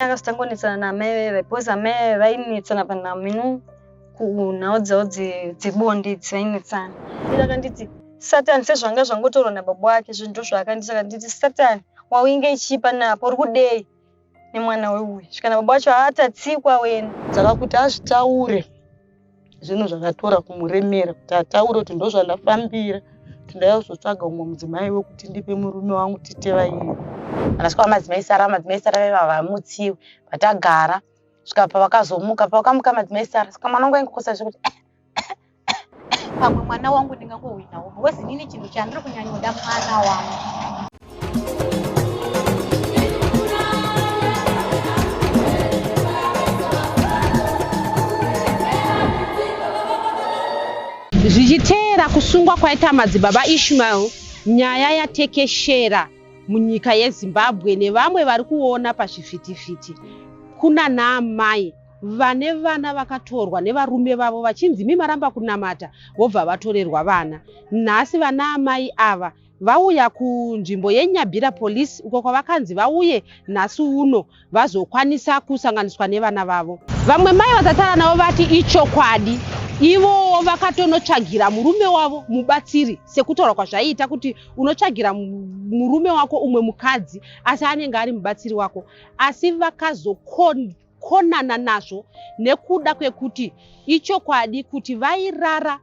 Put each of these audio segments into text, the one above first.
akazotangonetsana naamai veve because amai veve vainetsana panhamo ino kunhau dzavo dzebonde idzi vainetsana ira akanditi satani sezvanga zvangotorwa nababa wake zvinhu ndo zvaakanditi akanditi satani wawinge ichipa napo uri kudei nemwana weuyu zvikana baba wacho haatatsikwa wena dzakakuti azvitaure zvinhu zvakatora kumuremera kuti ataure kuti ndozvandafambira kuti ndaizotsvaga umwe mudzimai wekuti ndipe murume wangu titevairi anasvika vamadzimai sara vamadzimai sara vaiva vamutsiwi vatagara svika pavakazomuka pavakamuka madzimai sara saka mwana wangu aingokosa zvekuti eh, eh, eh, pamwe mwana wangu ndingangohwinawo wesi nini chinhu chandiri kunyanyoda mwana wangu zvichiteera kusungwa kwaita madzibaba ishmael nyaya yatekeshera munyika yezimbabwe nevamwe vari kuona pazvivhitivhiti kuna naamai vane vana vakatorwa nevarume vavo vachinzi mimaramba kunamata vobva vatorerwa vana nhasi vana amai ava vauya kunzvimbo yeNyabira Police uko kwavakanzi vauye nhasi uno vazokwanisa kusanganiswa nevana vavo. Vamwe mai vatataura navo vati ichokwadi ivowo vakatonotsvagira murume wavo mubatsiri sekutaura kwazvaiita kuti unotsvagira murume wako umwe mukadzi asi anenge ari mubatsiri wako asi vakazokon kukonana nazvo nekuda kwekuti ichokwadi kuti vairara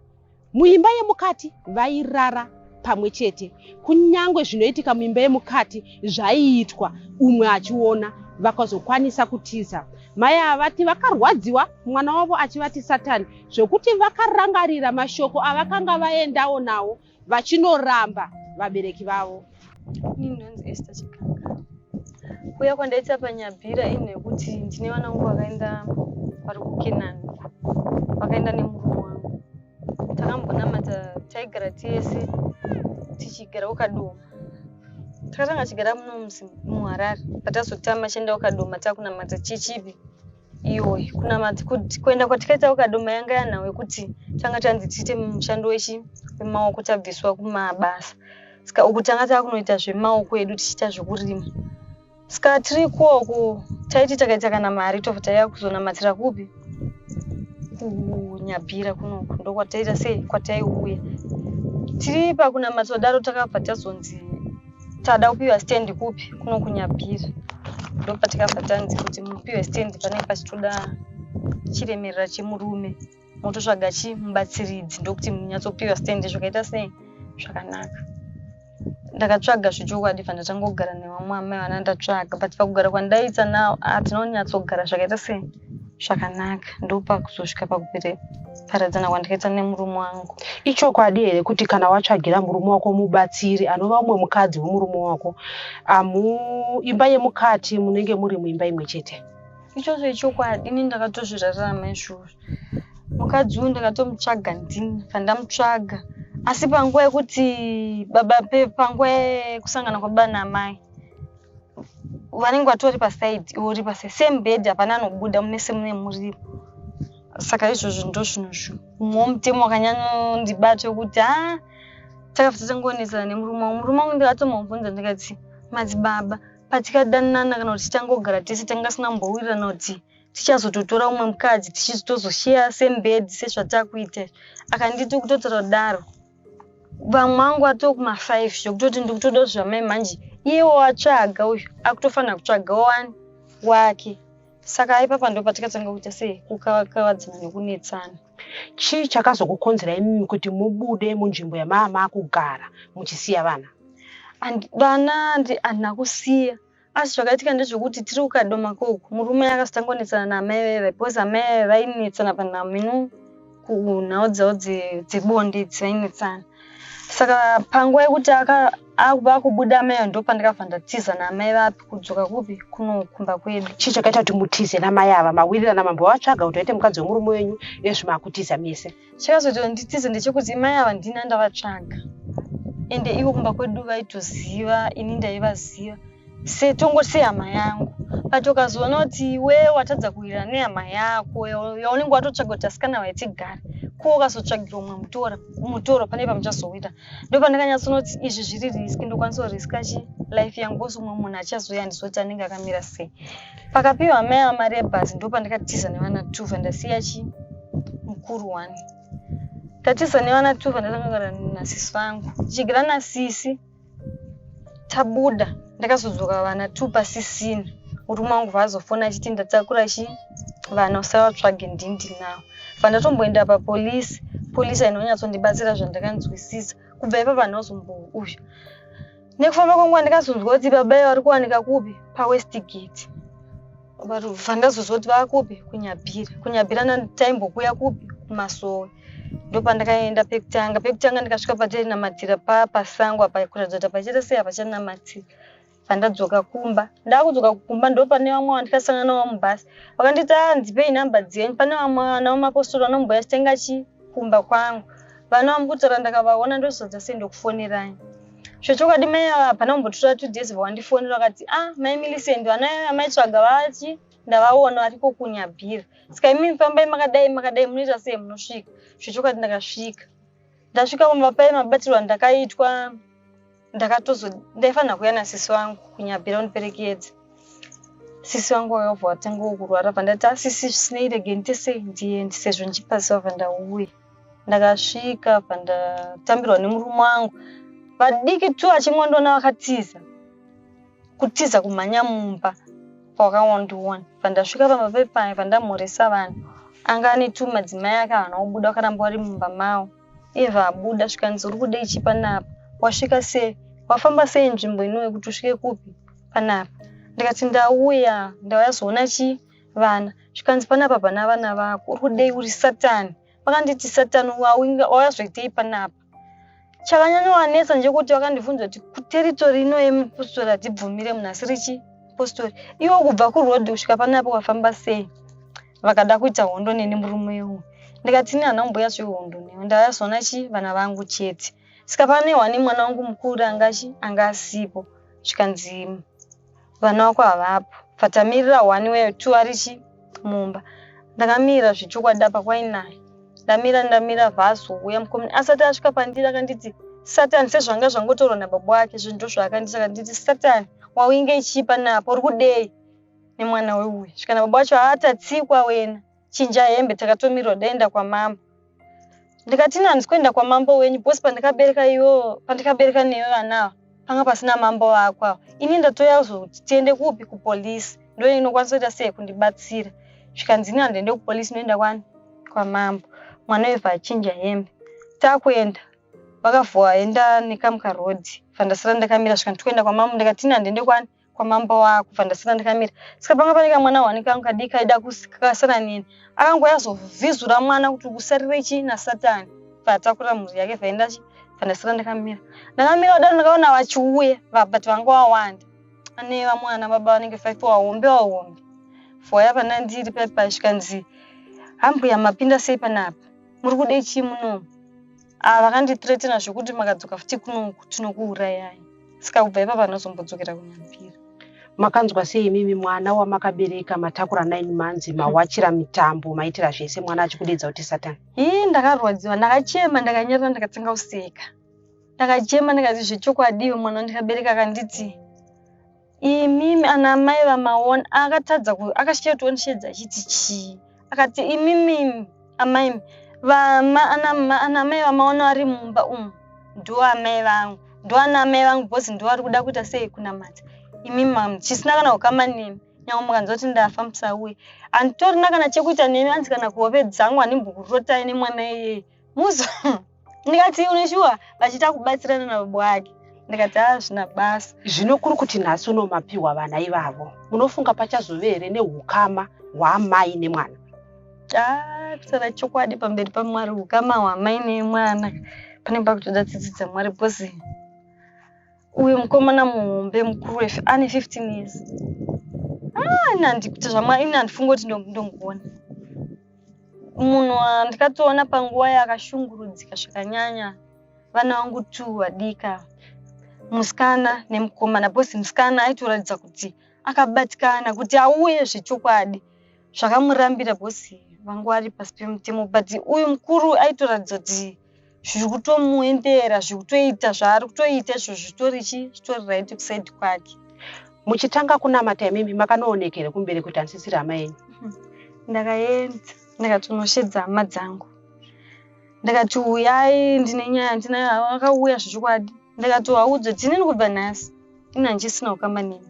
muimba yemukati vairara pamwe chete kunyange zvinoitika muimba yemukati zvaiitwa umwe achiona vakazokwanisa kutiza mai ava vati vakarwadziwa mwana wavo achivati satani zvekuti vakarangarira mashoko avakanga vaendawo nawo vachinoramba vabereki vavo. Ini ndonzi Esther Chikanga. Kuuya kwandaita panyabhira inhu yekuti ndine vana vangu vakaenda vari kuKenani, vakaenda nemurume wangu. Takambonamata taigara tese tichigara kuKadoma. Takatanga tichigara muno muHarare, patazotama tichienda kuKadoma takunamata chechivi. iwe kunamati kuti kuenda kwatikaita kukadoma yanga yanhau yekuti changa chanzi tiite mushando wechi wemaoko tabviswa kumabasa ska uku tanga tava kunoita zvemaoko edu tichiita zvekurima ska tiri kuoku taiti takaita kana mari tobva taiva kuzonamatira kupi kunyabhira kunoku ndokwataita sei kwataiuya tiri pakunamata daro takabva tazonzi Tada kupiwa stand kupi kuno kunyabira ndopatikabva tanzi kuti mupiwe stand panenge pachitoda chiremerera chemurume mototsvaga chimubatsiridzi ndokuti munyatsopiwa stand zvakaita sei zvakanaka ndakatsvaga zvechokwadi bva ndatangogara nevamwe amai vana ndatsvaga but pakugara kwandaita now hatinonyatsogara zvakaita sei zvakanaka ndopakuzosvika pakupere paradzana kwandikaita nemurume wangu ichokwadi here kuti kana watsvagira murume wako mubatsiri anova umwe mukadzi wemurume wako amu imba yemukati munenge muri muimba imwe chete ichocho ichokwadi ini ndakatozvirarama izvozvo mukadzi uyu ndakatomutsvaga ndini pandamutsvaga asi panguva yekuti baba panguva yekusangana kwababa namai vanenge vatori pasaidi iwe uri paside same bed hapana anobuda munese mune murimo saka izvozvo ndo zvinhu zvo mumwe womutemo wakanyanyondibata wekuti ha ah, takafita tangoonetsana nemurume wangu murume wangu ndikatomubvunza ndikati madzibaba patikadanana kana kuti tichangogara tese tanga sina mbowirirana kuti tichazototora umwe mukadzi tichizotozosheya sembedzi sezvatakuita akanditi ukutotora kudaro vamwe vangu atoo kuma-five zvekutoti ndiri kutoda kuti zvamai manje iyewo atsvaga uyu akutofanira kutsvaga wani wake saka aipapa ndo patikatanga kuita sei kukavadzana nekunetsana chii chakazokukonzera imimi kuti mubude munzvimbo yamaama kugara muchisiya vana vana handina kusiya Asi zvakaitika ndezvekuti tiri kukadoma koku murume akazotangonetsana naamai veve because amai veve vainetsana panhamino kunhau dzavo dzebonde idzi vainetsana saka panguva yekuti vakubuda amai vo ndopandakabva ndatiza naamai vapi kudzoka kupi kunokumba kwedu chii chakaita kuti mutize namai ava mawirirana mambo vatsvaga kuti vaite mukadzi wemurume wenyu ezvimakutiza mese chakazoti nditize ndechekuti mai ava ndini andavatsvaga ende ivo kumba kwedu vaitoziva ini ndaivaziva setongo sehama yangu but ukazoona kuti iwe watadza kuwirirana nehama yako yaunenge watotsvaga kuti asikana vaitigare ko ukazotsvagirwa umwe mutora mutoro pane pamuchazowita ndopandakanyatsonoti izvi zviri risk ndokwanisa kuriska chi life yangu kosi umwe munhu achazouya ndizoti anenge akamira sei Pakapiwa meya mari yebhazi ndopandakatiza nevana tuva ndasiya chi mukuru wani tatiza nevana tuva ndakangara nasisi vangu tichigira nasisi tabuda ndakazodzoka vana tu pasisina murume wangu vaazofona achiti ndatakura chi vana usavatsvage ndindi nawo vandatomboenda papolisi polisi ainonyatsondibatsira zvandakanzwisisa kubva ipa vanhu vazombouzha nekufamba kwangu andikazonzwa kuti baba iyo vari kuwanika kupi pawestgate bva ndazozwa kuti vava kupi kunyabhira kunyabhira nataimbokuya kupi kumasowe ndopandakaenda pekutanga pekutanga ndikasvika patainamatira pa pasango apa kuratidza kuti apachaita sei apachanamatira pandadzoka kumba ndakudzoka kumba ndopane vamwe vandikasangana navo mubhasi vakanditi a ah, ndipei nhamba dzenyu pane vamwe vana vamapostori vanomboya chitenga chi kumba kwangu vana vamukutaura ndakavaona ndozodza sei ndokufoneranyi zvechokwadi mai ava hapana kumbotora two days vawandifonera vakati ah mai milicent vana amaitsvaga vachi ndavaona variko kunyabhira saka imi fambai makadai makadai munoita sei munosvika zvechokwadi ndakasvika ndasvika kumba paye mabatirwa ndakaitwa ndakatozo ndaifanira kuya nasisi wangu kunyabhira undiperekedza sisi wangu wakabva watangawo kurwara bva ndati asisi ah, zvisinei rege nditese ndiende sezvo ndichipaziva bva ndauya ndakasvika apa ndatambirwa nemurume wangu vadiki tu achingondona vakatiza kutiza kumhanya mumba kwakawandiona pandasvika pamba pepai pandamhoresa vanhu anga ane tu madzimai ake havana kubuda vakaramba vari mumba mavo iye vabuda zvikanzi uri kudei chi panapa wasvika sei wafamba sei nzvimbo inowe kuti usvike kupi panapa ndikati ndauya ndauya zoona chii vana zvikanzi panapa pana vana vako uri kudei uri satani vakanditi satani wawazoitei panapa chakanyanyowanetsa ndechekuti vakandibvunza kuti kuteritori ino yemupostori hatibvumire munhu asi richi postori iwo kubva kuroad kusvika panapa wafamba sei vakada kuita hondo neni murume uyu ndikati ini hana kumboya zvehondo newe ndayazona chi vana vangu chete saka pane wani mwana wangu mukuru angachi anga asipo zvikanzi vana vako havapo patamirira one weyo two arichi mumba ndakamira zvechokwadi apa kwainaye ndamira ndamira vhaso uya mukomini asati asvika pandiri akanditi satani sezvanga zvangotorwa nababa wake zvinhu ndo zvaakanditi akanditi satani wawinge ichipa napo uri kudei nemwana weuyu svika nababa wacho haatatsikwa wena chinja hembe takatomirwa daenda kwamambo ndikati ini handisi kuenda kwamambo wenyu bhosi pandikabereka iwo pandikabereka newe vanawa panga pasina mambo vako awa ini ndatouya kuzoti tiende kupi kupolisi ndo inokwanisa kuita sei kundibatsira zvikanzi ini handiende kupolisi inoenda kwani kwamambo mwana wevha achinja hembe takuenda vakavhua enda nekamuka road fandasara ndakamira zvikanzi tikuenda kwamambo ndikati ini handiende kwani kwamambo wako kubva ndasara ndikamira saka panga pane kamwana wani kangu kadiki kaida kasara neni akangouya azovhizura mwana kuti kusarire chii nasatani bvaatakurira mhuri yake bvaenda chi bva ndasara ndikamira ndakamira kudaro ndakaona vachiuya but vanga wawanda ane vamwana baba vanenge five wahombe wahombe foya pana ndiri paipa zvikanzi hambuya mapinda sei panapa muri kudei chii munomu ah, vakandithreatena zvekuti makadzoka futi kunoku tinokuurayai saka kubva ipapa ndinozombodzokera kunyambira makanzwa sei imimi mwana wamakabereka matakura nine months mawachira mitambo maitira zvese mwana achikudedza kuti satan ii ndakarwadziwa ndakachema ndakanyarira ndakatanga kuseka ndakachema ndikati zvechokwadiwe mwana wandikabereka akanditi imimi ana amai vamaona akatadza akashiya kuti wandisheedza achiti chii akati imimi amai vama ana amai vamaona ari mumba umu ndo amai vangu ndo ana amai vangu bhozi ndo vari kuda kuita sei kunamata imimi mamu chisina kana kukama nemi nyange mukanzwa kuti ndafa musauye handitorina kana chekuita nemi anzi kana kuhove dzangu handimbokurotai nemwana iyeye muzo ndikati une shuwa vachita kubatsirana nababa wake ndikati hazvina ah, basa zvino kuri kuti nhasi unomapiwa vana ivavo unofunga pachazove here neukama hwaamai nemwana takusara chokwadi pamberi pamwari ukama hwamai nemwana pane pakutoda tsitsi dzamwari bcause uyu mukomana muhombe mukuru wefe ane 15 years ah, ini handikuti zvamwari ini handifunga kuti ndonguona munhu wandikatoona panguva yakashungurudzika zvakanyanya vana vangu two vadika musikana nemukomana bcause musikana aitoratidza kuti akabatikana kuti auye zvechokwadi zvakamurambira bcause vanga vari pasi pemutemo but uyu mukuru aitoratidza kuti zviri kutomuendera zviri kutoita zvaari kutoita izvo zvitori chi zvitori right kusaidi kwake muchitanga kunamata imimi makanooneka here kumberi kuti handisisiri hama yenyu mhm. ndakaenda ndakatonoshedza hama dzangu ndakati uyai ndine nyaya ndina akauya zvechokwadi ndakati waudze tinini kubva nhasi ini handichisina kukamba neni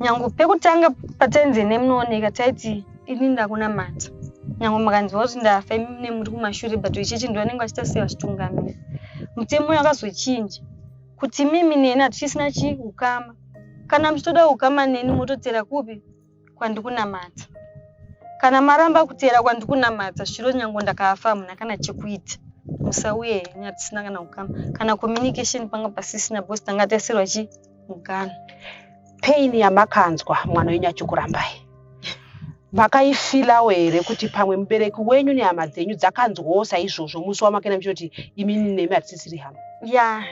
nyangu pekutanga patainzi ine munooneka taiti ini ndakunamata nyangu makanziwa kuti ndafa imi mune muri kumashure but ichechi ndo anenge achita sei vachitungamira mutemo uyo akazochinja kuti mimi neni hatichisina chii ukama kana muchitoda ukama neni mototera kupi kwandikunamata kana maramba kutera kwandikunamata zviro nyangu ndakafa hamuna kana chekuita musauye henyu hatisina kana ukama kana communication panga pasisina bcause tanga taisirwa chii Muganhu. Pain yamakanzwa mwana wenyu achikurambai. Makaifilawo here kuti pamwe mubereki wenyu nehama dzenyu dzakanzwawo saizvozvo musi wamakaenda muchitoti imi nemi hatisisiri hama. Ya.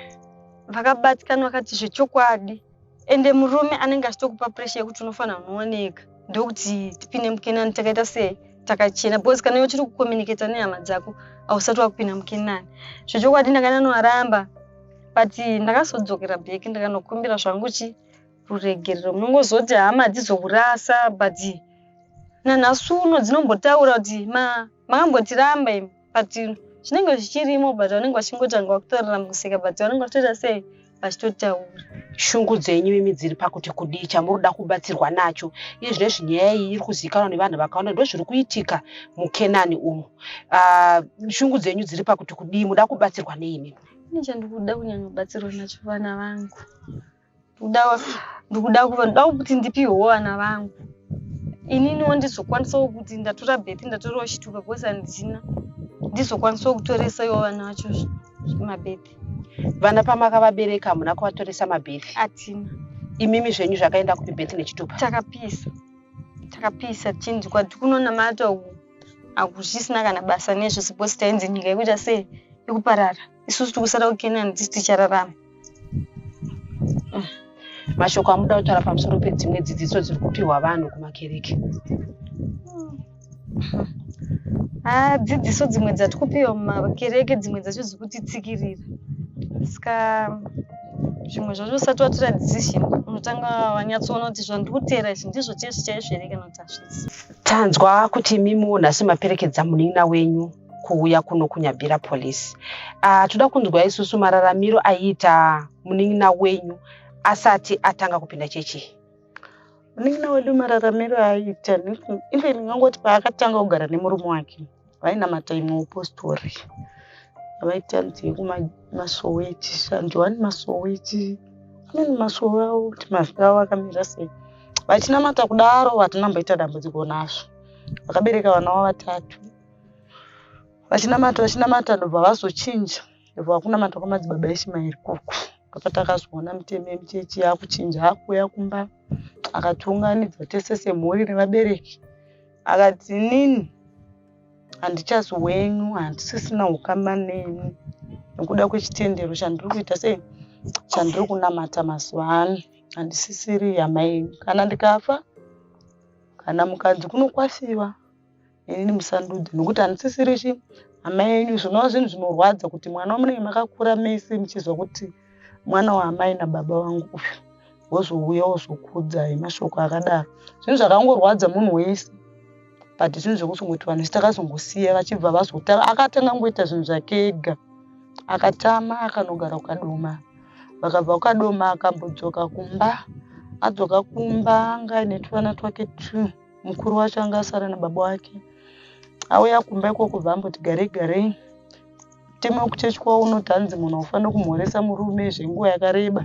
Vakabatikana vakati zvechokwadi. Ende murume anenge achitokupa pressure yekuti unofanira kunooneka. ndokuti tipinde mukenani takaita sei takachena because kana uchiri kucommunicata nehama dzako hausati wakupinda mukenani zvechokwadi ndakanonoaramba but ndakazodzokera back ndakanokumbira zvangu chi ruregerero munongozoti hama dzizokurasa but nanhasi uno dzinombotaura kuti makambotiramba imi but zvinenge zvichirimo but vanenge vachingotanga vakutorera musika but vanenge vachitoita sei vachitotaura shungu dzenyu mimi dziri pakuti kudii chamuri kuda kubatsirwa nacho iye zvino izvi nyaya iyi iri kuzivikanwa nevanhu vakawanda ndo zviri kuitika mukenani umu uh, shungu dzenyu dziri pakuti kudii muda kubatsirwa nei mimi ine chandikuda kunyanya kubatsirwa nacho vana vangu ndikuda kuva ndoda kuti ndipiwewo vana vangu ininiwo ndizokwanisawo kuti ndatora beti ndatorawo chituka bcause handina ndizokwanisawo kutoresaiwo vana vacho mabeti vana pamakavabereka hamuna kuvatoresa mabeti atina imimi zvenyu zvakaenda kupi beti nechitupa takapisa takapisa chinzi kwati kunonamata uku hakuzvisina kana basa nezvese bcause tainzi nyika yekuita sei yekuparara isusu tikusara kukenani tisi tichararama mm. mashoko amuda kutaura pamusoro pedzimwe dzidziso dziri kupiwa vanhu kumakereke haa mm. dzidziso dzimwe dzati kupiwa mumakereke dzimwe dzacho dziri kutitsikirira ska zvimwe zvacho usati watora decision unotanga wanyatsoona kuti zvandiri kuteera izvi ndizvo chese chaizvo here kana kuti hazvisi tanzwa kuti imimiwo nhasi maperekedza munin'ina wenyu kuuya kuno kunyabira police uh, toda kunzwa isusu mararamiro aiita munin'ina wenyu asati atanga kupinda chechi munin'ina wedu mararamiro aiita even ngangoti paakatanga kugara nemurume wake vainamata imwe upostori vaita nzi yekumasowe echishanjwani masowe echi amweni masowe avo kuti mazwi avo akamira sei vachinamata kudaro vatinamboita dambudziko nazvo vakabereka vana wavatatu vachinamata vachinamata ndobva vazochinja ndobva vakunamata kwamadzibaba eshimaeri koko apa takazoona mitemo yemuchechi yakuchinja akuuya kumba akatiunganidza tese semhuri nevabereki akati inini handichazi wenyu handisisina ukama neni nekuda kwechitendero chandiri kuita sei chandiri kunamata mazuva ano handisisiri hama yenyu kana ndikafa kana mukadzi kunokwasiwa inini musandudze nokuti handisisiri chi hama yenyu zvinova zvinhu zvinorwadza kuti mwana wamunenge makakura mese muchizwa kuti mwana waamai nababa vangu uyu wozouya wozokudzai mashoko akadaro zvinhu zvakangorwadza munhu wese but zvinhu zvekuzongoti vanhu vese takazongosiya vachibva vazotanga akatanga kungoita zvinhu zvake ega akatama akanogara kukadoma vakabva kukadoma akambodzoka kumba adzoka kumba anga aine tuvana twake two mukuru wacho anga asara nababa wake auya kumba ikoko bva amboti garei garei teme kuchechi kwavo unoti hanzi munhu aufanira kumhoresa murume zvenguva yakareba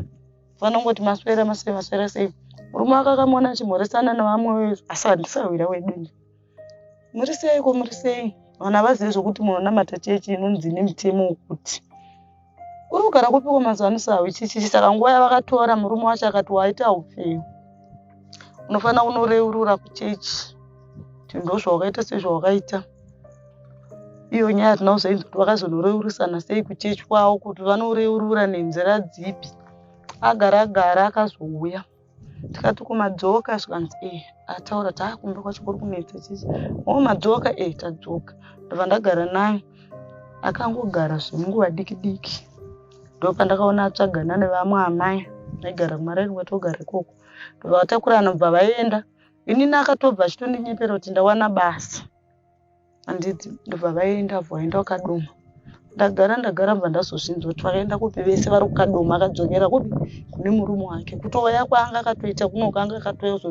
ufanira kungoti maswera masei maswera sei murume wake akamona achimhoresana nevamwe asi handisahwira wedu nje muri sei ko muri sei vanhu havazive zvekuti munonamata chechi inonzi nemitemo wekuti uri kugara kupiko mazuvanisa hauchichichi saka nguva yavakatora murume wacho akati waita upenyu unofanira kunoreurura kuchechi kuti ndozvawakaita sezvawakaita iyo nyaya hatina kuzoinzi kuti vakazonoreurusana sei kuchechi kwavo kuti vanoreurura nenzira dzipi agara gara akazouya tikati kumadzoka zvikanzi e eh, ataura taakumba kwacho kuri kunetsa chichi o madzoka e eh, tadzoka ndobva ndagara naye akangogara zvemunguva diki diki ndopandakaona atsvagana nevamwe amai aigara kumaraini kwatogara ikoko ndobva vatakurana bva vaenda inini akatobva achitondinyeperwa kuti ndawana basa handiti ndobva vaenda vo vaenda vakadoma ndagara ndagara bva ndazozvinzwa kuti vakaenda kupi vese vari kukadoma akadzokera kupi kune murume wake kutouya kwaanga akatoita kunoka anga akatouya kuzo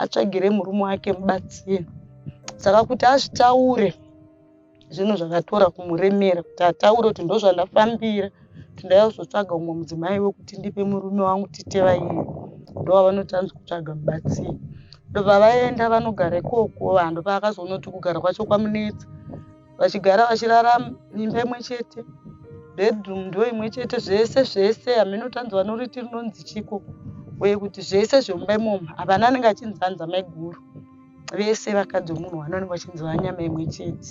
atsvagire murume wake mubatsire saka kuti azvitaure zvinhu zvakatora kumuremera kuti ataure kuti ndozvandafambira tindauya kuzotsvaga umwe mudzimai wekuti ndipe murume wangu tite vaiye ndovanoti anzi kutsvaga mubatsiri ndopavaenda vanogara ikoko vanhu ndopavakazonoti kugara kwacho kwamunetsa vachigara vachirara imba imwe chete bedroom ndo imwe chete zvese zvese hameno tanzi vanoriti rinonzi chiko uye kuti zvese zvemumba imomo havana anenge achinzi anzi amaiguru vese vakadzi vemunhu wani vanenge vachinzi vanyama imwe chete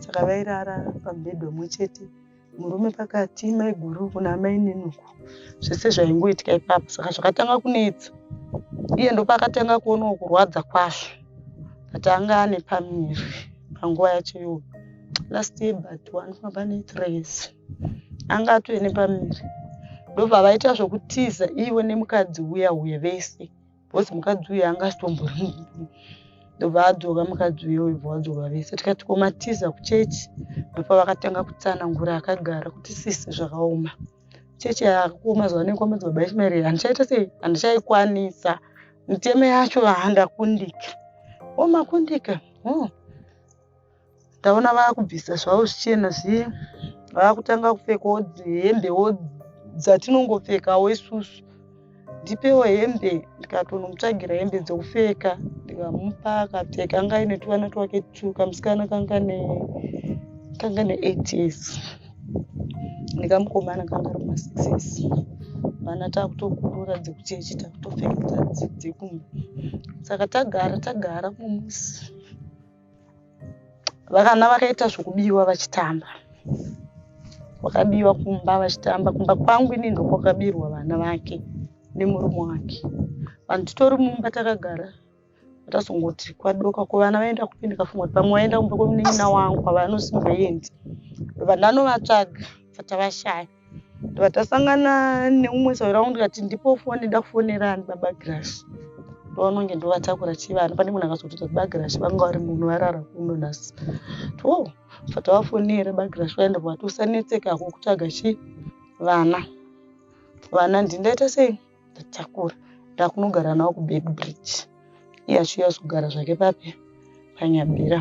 saka vairara pamubhedha umwe chete murume pakati maiguru uku namainini uku zvese zvaingoitika ipapo saka zvakatanga kunetsa iye ndopaakatanga kuonawo kurwadza kwazvo but anga ane pamiri panguva yacho iyoyo last year but wanofamba netres anga atove nepamiri ndobva vaita zvokutiza ivo nemukadzi uya uye vese bcause mukadzi uyu anga asitombori ndobva adzoka mukadzi uyo ibva wadzoka vese tikati komatiza kuchechi ndopa vakatanga kutsanangura akagara kuti sisi zvakaoma chechi yakuoma zuva nekomedzi baba ishmaeri handichaita sei handichaikwanisa mitemo yacho handakundika omakundika oh. ndaona vakubvisa zvavo zvichena zviye vakutanga kupfekawo hembewo dzatinongopfekawo isusu ndipewo hembe ndikatonomutsvagira hembe dzekupfeka ndikamupa akapfeka anga aine tuvana twake tu kamusikana kanga ne kanga ne eight years ndikamukomana kanga ari masix years vana takutokurura dzekuchechi takutopfeka dzekumba saka tagara tagara mumusi vakana vakaita zvekubiwa vachitamba vakabiwa kumba vachitamba kumba kwangu ini ndokwakabirwa vana vake nemurume wake vanhu titori mumba takagara tasongoti kwadoka ko vana vaenda kupi ndikafunga kuti pamwe vaenda kumba kwemunin'ina wangu kwavanosimbaendi vanhu vanovatsvaga vatavashaya ndobva tasangana neumwe saura wangu ndikati ndipo foni nda kufonera ani baba grash ndovanonge ndovatakura chivana pane munhu akazototi baba grash vanga vari munhu varara kuno nhasi to bva tavafonera baba grash vaya ndobva vatosanetseka kukutsvaga chi vana vana ndindaita sei ndatakura ndakunogara nawo kuback bridge iye achiuya kugara zvake papi panyabira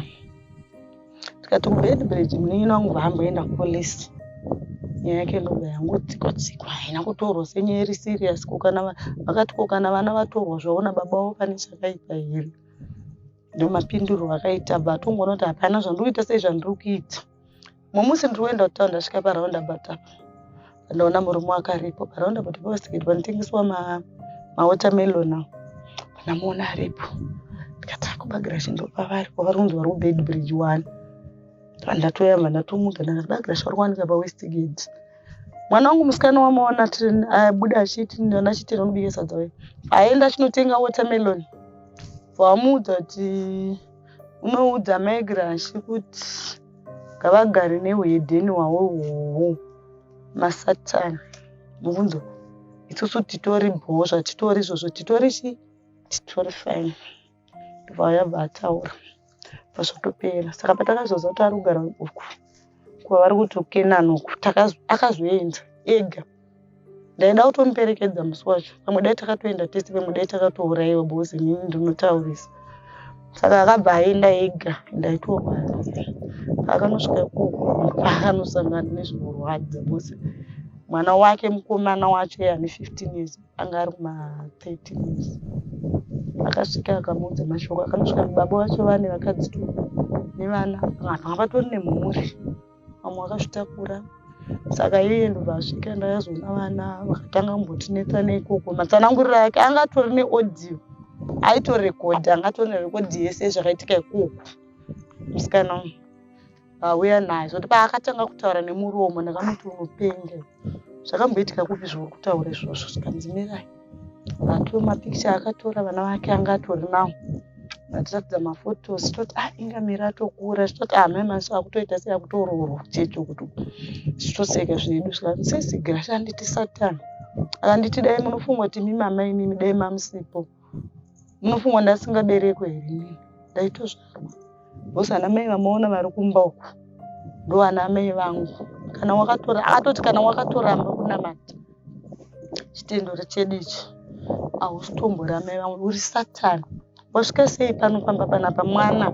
tikati kubed bridge munin'ina wangu vaamboenda kupolice nyaya yake ndoga yangotsikwa tsikwa haina kutorwa senyaya iri serious kokana vakati kokana vana vatorwa zvaona baba vavo pane chakaipa here ndomapindurwa akaita batongoona kuti hapana zvandiri kuita sei zvandiri kuita mumusi ndiri kuenda kutown ndasvika paraundabout apa ndaona murume wakaripo paraundabout pavasikiti panotengeswa mawatermelon ma ndamuona aripo ndikati akubagira chindopa vari kwavari kunzi vari kubed bridge one ndatoyamba ndatomuka ndakati bagira chauri kuwanika pawestgate mwana wangu musikana wamaona abuda achiti ndana chitira unobika sadza we aenda achinotenga watermelon vamuudza kuti unoudza mai grashi kuti ngavagare neuhedheni hwavo hwohwo masatani mubvunzo isusu titori bhozva titori izvozvo titori chi titori fine ndobva yabva ataura pazvotopera saka patakazoziva kuti ari kugara uku kuva vari kuti ukenani uku akazoenda ega ndaida kutomuperekedza musi wacho pamwe dai takatoenda tese pamwe dai takatourayiwa because ini ndinotaurisa saka akabva aenda ega ndaitorwara akanosvika ikoko akanosangana nezvinorwadza because mwana wake mukomana wacho ye ane fifteen years anga ari kumathirteen years akasvika akamuudza mashoko akanosvika mubaba vacho vane vakadzi to nevana vanhu avatori nemhuri vamwe vakazvitakura saka iye ndobvasvika ndakazoona vana vakatanga kumbotinetsa neikoko matsananguriro ake anga atori neaudio aitorekodha anga atori nerekodhi yese zvakaitika ikoko musikana uyu vauya naye zvoti paakatanga kutaura nemuromo ndakamuti unopenga zvakamboitika kupi zvauri kutaura izvozvo zvikanzi mirai vake mapikicha akatora vana vake anga atori nawo vatiratidza mafotos toti ah inga miri atokura zvitoti ah mai masi akutoita sei akutoroorwa chete kuti zvitoseka zvedu zvikanzi sesi grasha anditi satani akanditi dai munofunga kuti mimama imimi dai mamusipo Munofunga ndasingaberekwe here ini? Ndaitozvarwa. Boss ana mai vamaona vari kumba uku. Ndo ana mai vangu. Kana wakatora akatoti kana wakatoramba kunamata. Chitendo chedu ichi. Hausitomboda mai vangu uri satani. Wasvika sei pano pamba panapa mwana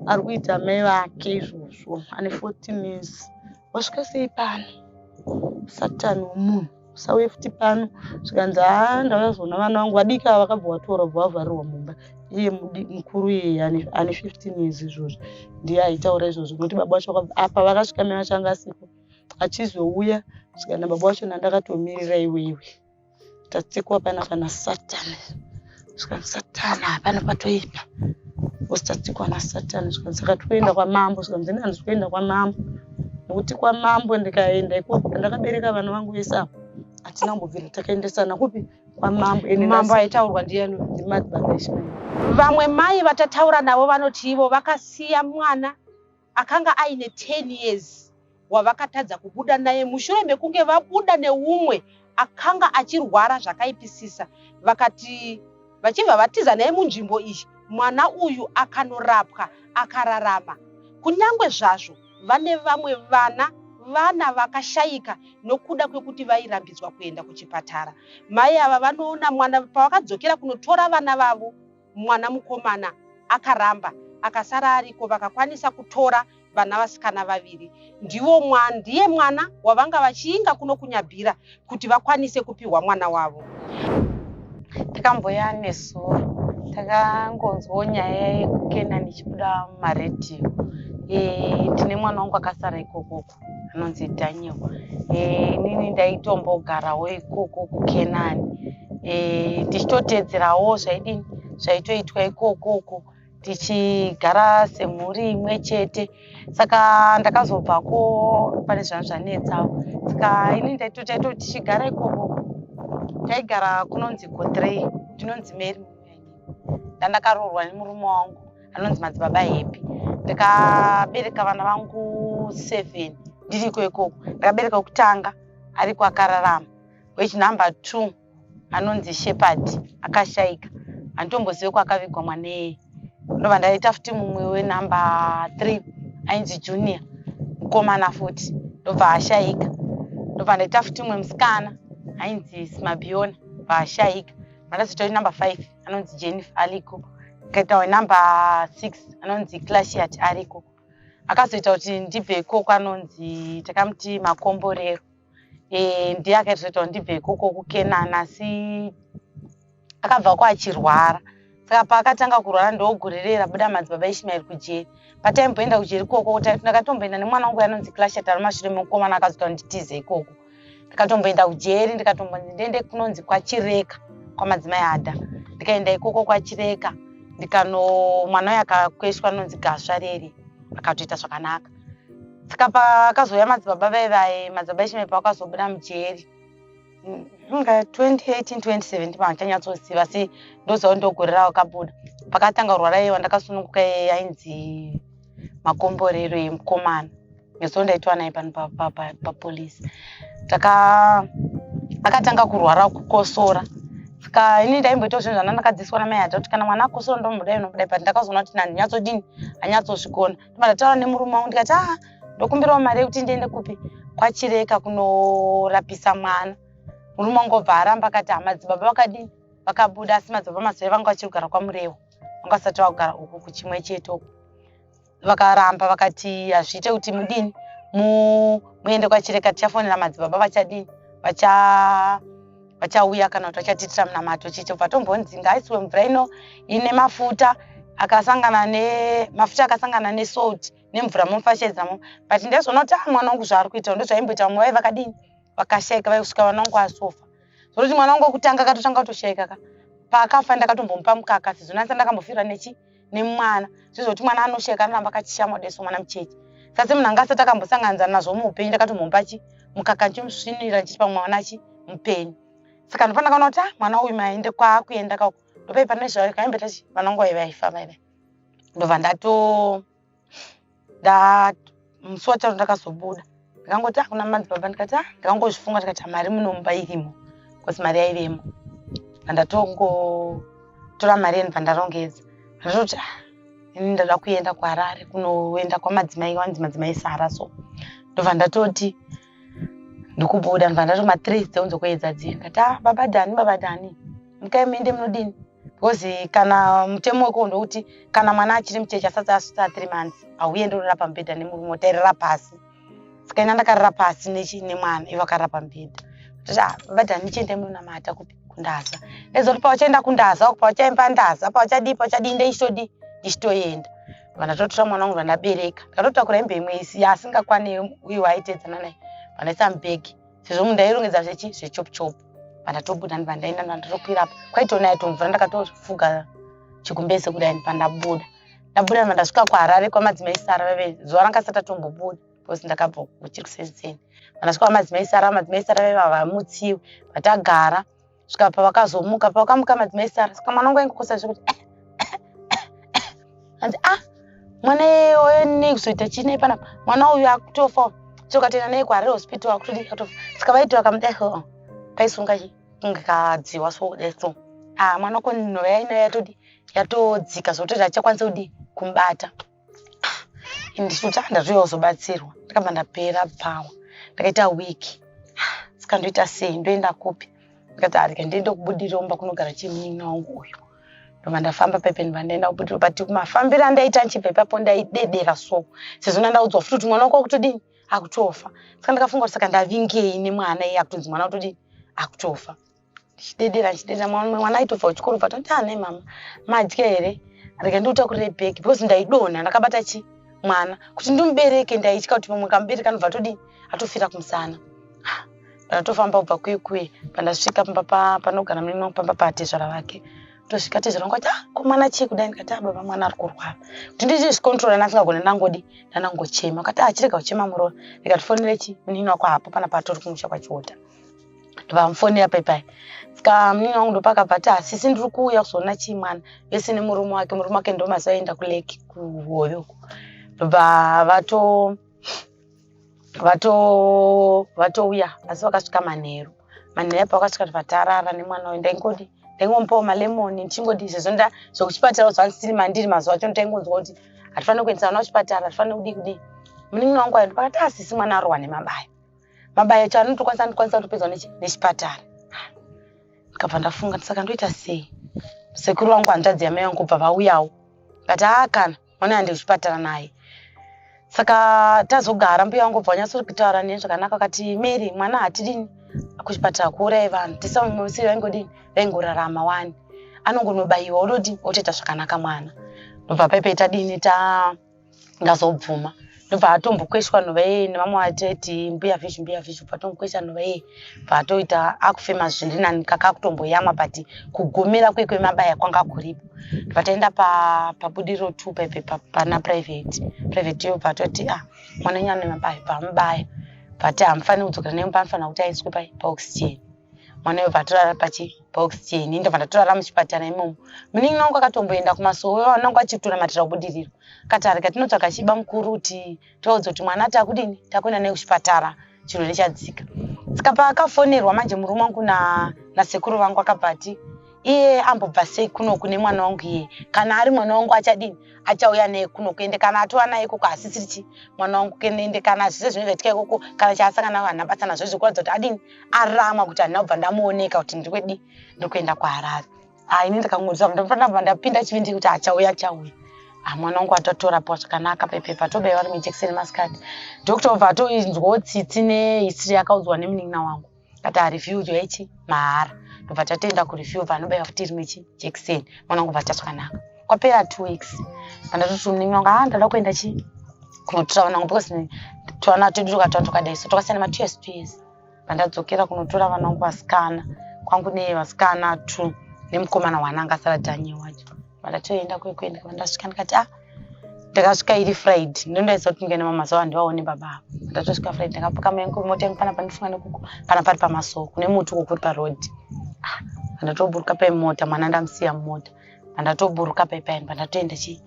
ari kuita mai vake izvozvo. Ane 14 years. wasvika sei pano satani womunhu usauye futi pano zvikanzi haa ndauya kuzoona vana vangu vadiki ava vakabva vatora bva vavharirwa mumba iye mukuru iyeye ane 15 years izvozvo ndiye aitaura izvozvo nokuti baba vacho apa vakasvika mai vachanga asiko achizouya zvikanzi baba vacho nandakatomirira iweiwe tatsikwa pana pana satani zvikanzi satani hapana patoipa bcause tatsikwa nasatani zvikanzi saka tikuenda kwamambo zvikanzi ini handizi kuenda kwamambo nekuti kwamambo ndikaenda ikoko ndakabereka vana vangu vese avo hatina kumbobvira takaendesana kupi kwamambo mambo aitaurwa ndiyani ndimadbaa vamwe mai vatataura navo vanoti ivo vakasiya mwana akanga aine 10 years wavakatadza kubuda naye mushure mekunge vabuda neumwe akanga achirwara zvakaipisisa vakati vachibva vatiza naye munzvimbo iyi mwana uyu akanorapwa akararama kunyange zvazvo vane vamwe vana vana vakashayika nokuda kwekuti vairambidzwa kuenda kuchipatara mai ava vanoona mwana pavakadzokera kunotora vana vavo mwana mukomana akaramba akasara ariko vakakwanisa kutora vana vasikana vaviri ndivo mwana ndiye mwana wavanga vachiinga kuno kunyabhira kuti vakwanise kupihwa mwana wavo tikamboya nesuwo takangonzwawo nyaya yekukenani ichibuda mumaredhiyo e, tine mwana wangu akasara ikokoko anonzi daniel eh, inini ndaitombogarawo ikoko kukenani eh, ndichitoteedzerawo zvaidini zvaitoitwa ikoko uko tichigara semhuri imwe chete saka ndakazobvako pane zvanhu zvanetsawo saka ini ndaitotaito tichigara ikoko taigara kunonzi kotrey ndinonzi mary ndandakaroorwa nemurume wangu anonzi madzibaba happy ndikabereka vana vangu seven ndiriko ikoko ndakabereka wekutanga ariko akararama wechinumber two anonzi shepherd akashaika handitombozive kwaakavigwa mwaneye ndobva ndaita futi mumwe wenumber three ainzi junior mukomana futi ndobva ashaika ndobva ndaita futi mumwe musikana ainzi smabiona bva ashaika madazotori number five anonzi jennifer ariko akaita wenumber six anonzi clashiat ariko akazoita kuti ndibve ikoko anonzi takamuti makomborero e, ndiye akaitozoita kuti ndibve ikoko kukenana asi akabva ko achirwara saka paakatanga kurwara ndoogurirera buda madzibaba ishimaeri kujeri pataimboenda kujeri ikoko ndakatomboenda nemwana wangu yanonzi clashiat ari mashure mekukomana akazoita kuti nditize ikoko ndikatomboenda kujeri ndikatombonzi ndiende kunonzi kwachireka kwamadzimai adha ndikaenda ikoko kwachireka ndikano mwana uyo akakweshwa anonzi gasva reri akatoita zvakanaka saka paakazouya madzibaba vaye vaye madzibaba echimepa akazobuda mujeri inga 2018 2017 vanhu chanyatsoziva asi ndoziva kuti ndogore ravo kabuda pakatanga kurwara iye wandakasununguka iye ainzi makomborero yemukomana so ndaitwa naye pano papolice taka akatanga kurwara kukosora ska ini ndaimboitawo zvinhu zvana ndakadziswa namai hata kuti kana mwana akosora ndomudai nomudai but ndakazoona kuti nani nyatsodini anyatsozvigona ndima ndataura nemurume wangu ndikati aa ah, ndokumbirawo mari yekuti ndiende kupi kwachireka kunorapisa mwana murume wangu obva aramba akati hamadzibaba vakadini vakabuda asi madzibaba mazoe vanga vachiri kugara kwamurewo vanga vasati vakugara uku kuchimwe chete uku vakaramba vakati hazviite kuti mudini muende kwachireka tichafonera madzibaba vachadini vachauya kana kuti vachatiitira munamato chicho bva tombonzi ngaisiwe mvura ino ine mafuta akasangana nemafuta akasangana nesalt nemvura momfashedzamo but ndezvona kuti a mwana wangu zvaari kuita ndozvaimboita vamwe vai vakadini vakashaika vaikusvika vana wangu asofa zvoroti mwana wangu wekutanga akatotanga kutoshaika ka paakafa ndakatombomupa mukaka sezvo nasa ndakambofirwa nechi nemwana zvizoti mwana anosheka anoramba akachishama deso mwana mucheche sase munhu anga asati akambosanganidzana nazvo muupenyu ndakatomhomba chi mukaka ndichimusvinirira ndichiti pamwe mwana chi mupenyu saka ndopana kaona kuti ah, mwana uyu maende kwaakuenda kako ndopaipa nezvayo kaimbe tachi mwana wangu waive aifa vaive ndobva ndato musi wacharo ndakazobuda ndikangoti akuna ah, manzi baba ndikati ah, ndikangozvifunga ndikati mari munomba irimo bcause mari yaivemo andatongotora mari yeni pandarongedza ndatokuti ah, ini ndada kuenda kuharare kunoenda kwamadzimai wanzi madzimai sara so ndobva ndatoti ndikubuda ndobva ndatoma three dzeunzo kuedza dziye ndikati ah, baba dhani baba dhani mukai muende munodini because kana mutemo wekuwo ndouti kana mwana achiri mucheche asati asvitsa three months hauye ndorara pamubhedha nemurume otairira pasi saka ina ndakarira pasi nemwana ivo akarira pamubhedha ah, vati handichiendai munonamata kupi kundaza ezoti pauchaenda kundaza uku pauchaimba ndaza pauchadii pauchadii ndeichitodii ndichitoenda vandatotora mwana wangu vandabereka ndikatotakura hembe imwe isi yaasingakwane uye waaitedzana naye vandaisa mubhegi sezvo mundairongedza zvechi zvechopuchopu pandatobuda ndipandaenda ndandotokwira apa kwaitona yaito mvura ndakatofuga chikumbese kudai ndipandabuda ndabuda ndipa ndasvika kuharare kwamadzimai sara vave zuva ranga sati atombobuda because ndakabva kuchiri kusenzeni pandasvika kwamadzimai sara madzimai sara vave vavamutsiwe vatagara svika pavakazomuka pavakamuka madzimai sara saka mwana wangu aingokosa zvekuti eh, hanzi ah mwana iyoyo nei kuzoita chii nei panapa mwana uyu akutofa tokatenda nei kuhare hospital akutodii atofa saka vaiti vakamudai so kaisunga kunge kadziwa so kudai so ah mwana ko nhova yainayo yatodii yatodzika zvokutoti achakwanisa kudii kumubata ndisuta ndazouya kuzobatsirwa ndakabva ndapera bvawa ndakaita week saka ndoita sei ndoenda kupi ndikati arika ndiende kubudiromba kunogara chimunin'ina wangu uyu ndobva ndafamba pepe ndibva ndaenda kubudiro but mafambiro andaita ndichibva ipapo ndaidedera so sezvo ndandaudzwa futi kuti mwana wako akutodini akutofa saka ndakafunga kuti saka ndavingei nemwana iye akutonzi mwana akutodini akutofa ndichidedera ndichidedera mwana aitobva kuchikoro bva toti ane ah, mama madya here rega ndiutakurire bag because ndaidonha ndakabata chi mwana kuti ndimubereke ndaitya kuti pamwe kamubereka anobva atodini atofira kumusana ndatofamba kubva kuye kuye pandasvika pamba panogara murume wangu pamba patezvara vake tosvika tezvara vangu vati ah ko mwana chii kudai ndikati ah baba mwana ari kurwara kuti ndichizvikontrola ndasingagone ndangodi ndanangochema kati ah chirega kuchema muroora ndikatifonere chi munini wako hapo pana patori kumusha kwachiota ndovamufoni apa ipai ska munini wangu ndopakabva ti hasisi ndiri kuuya kuzoona chii mwana vese nemurume wake murume wake ndomaziva aenda kuleki kuhoyoko ndobva vato vatouya asi vakasvika manheru manheru apo vakasvika vatarara nemwana uyu ndaingodi ndaingomupawo malemoni ndichingoti izvezvo nda zvekuchipatara uziva ndisiri mandiri mazuva acho ndaingonzwa kuti hatifanire kuendesa vana kuchipatara hatifanire kudii kudii munin'ina wangu ayo ndipakati asisi mwana arohwa nemabayo mabayo acho anotokwanisa andikwanisa kutopedzwa nechipatara ndikabva ndafunga saka ndoita sei sekuru vangu hanzvadzi yamai vangu kubva vauyawo kati haa kana mwana aende kuchipatara naye saka tazogara mbuya wangu bva wanyatso kutaura neni zvakanaka akati mary mwana hatidini kuchipatara kuurai vanhu tisamusiri vaingodini vaingorarama wani anongonobayiwa ododini otoita zvakanaka mwana ndobva paipe tadini ta ndazobvuma ndobva atombokweshwa nhova yeye nevamwe vateti mbuya fish mbuya fish bva atombokwesha nhova yeye bva atoita akufema zviri nani kaka akutomboyamwa but kugomera kwekwemabaya kwanga kuripo bva taenda pabudiriro pa two paipe pana private private yo bva atoti ah mwana nyana nemabaya bva amubaya bva ti hamufaniri kudzokera nemba anofanira kuti aiswe pai paoxygen mwana uyo patorara pachibox cheni ndobva ndatorara muchipatara imomo muningi nangu akatomboenda kumasowe vanangu achitonamatira kubudiriro katarika tinotsvaga chiba mukuru kuti tivaudze kuti mwana takudini takuenda naye kuchipatara chirwere chadzika saka paakafonerwa manje murume wangu nasekuru vangu akabva ati iye ambobva sei kuno kune mwana wangu iye kana ari mwana wangu achadini achauya naye kuno kuende kana atova naye ikoko hasisiri chi mwana wangu kuende kana zvese zvinenge zvaitika ikoko kana chaasangana navanhu abatsana zvo zvekuratidza kuti adini aramwa kuti handina kubva ndamuoneka kuti ndiri kwedi ndiri kuenda kuharare ha ini ndikangoziva ndinofanira kubva ndapinda chivindi kuti achauya achauya ha mwana wangu atotora pa zvakanaka pepepa tobaiwa nemijekiseni masikati dokta obva atoinzwawo tsitsi nehistory yakaudzwa nemunin'ina wangu kati arefuse yaichi mahara ndobva tatoenda kurefuse anobaiwa futi rimwe jekiseni mwana wangu bva tazwakanaka kwapera two weeks andatoti muningi wangu haa ndada kuenda chi kunotora vana vangu because twana tedu twakatwana twakadai so twakasiyana ma two years two years pandadzokera kunotora vana vangu vasikana kwangu ne vasikana two nemukomana wana anga asara danye wacho vandatoenda kwekuenda vandasvika ndikati ah ndakasvika iri friday ndondaisa kuti ndikaenda mamazuva handivaone baba ava ndatosvika friday ndakapuka mayangu mota yangu pana pandifunga nekuko pana pari pamasoko kune muti uko kuri paroad ah, ndatoburuka pemota mwana ndamusiya mumota pandatoburuka paipaini pandatoenda chi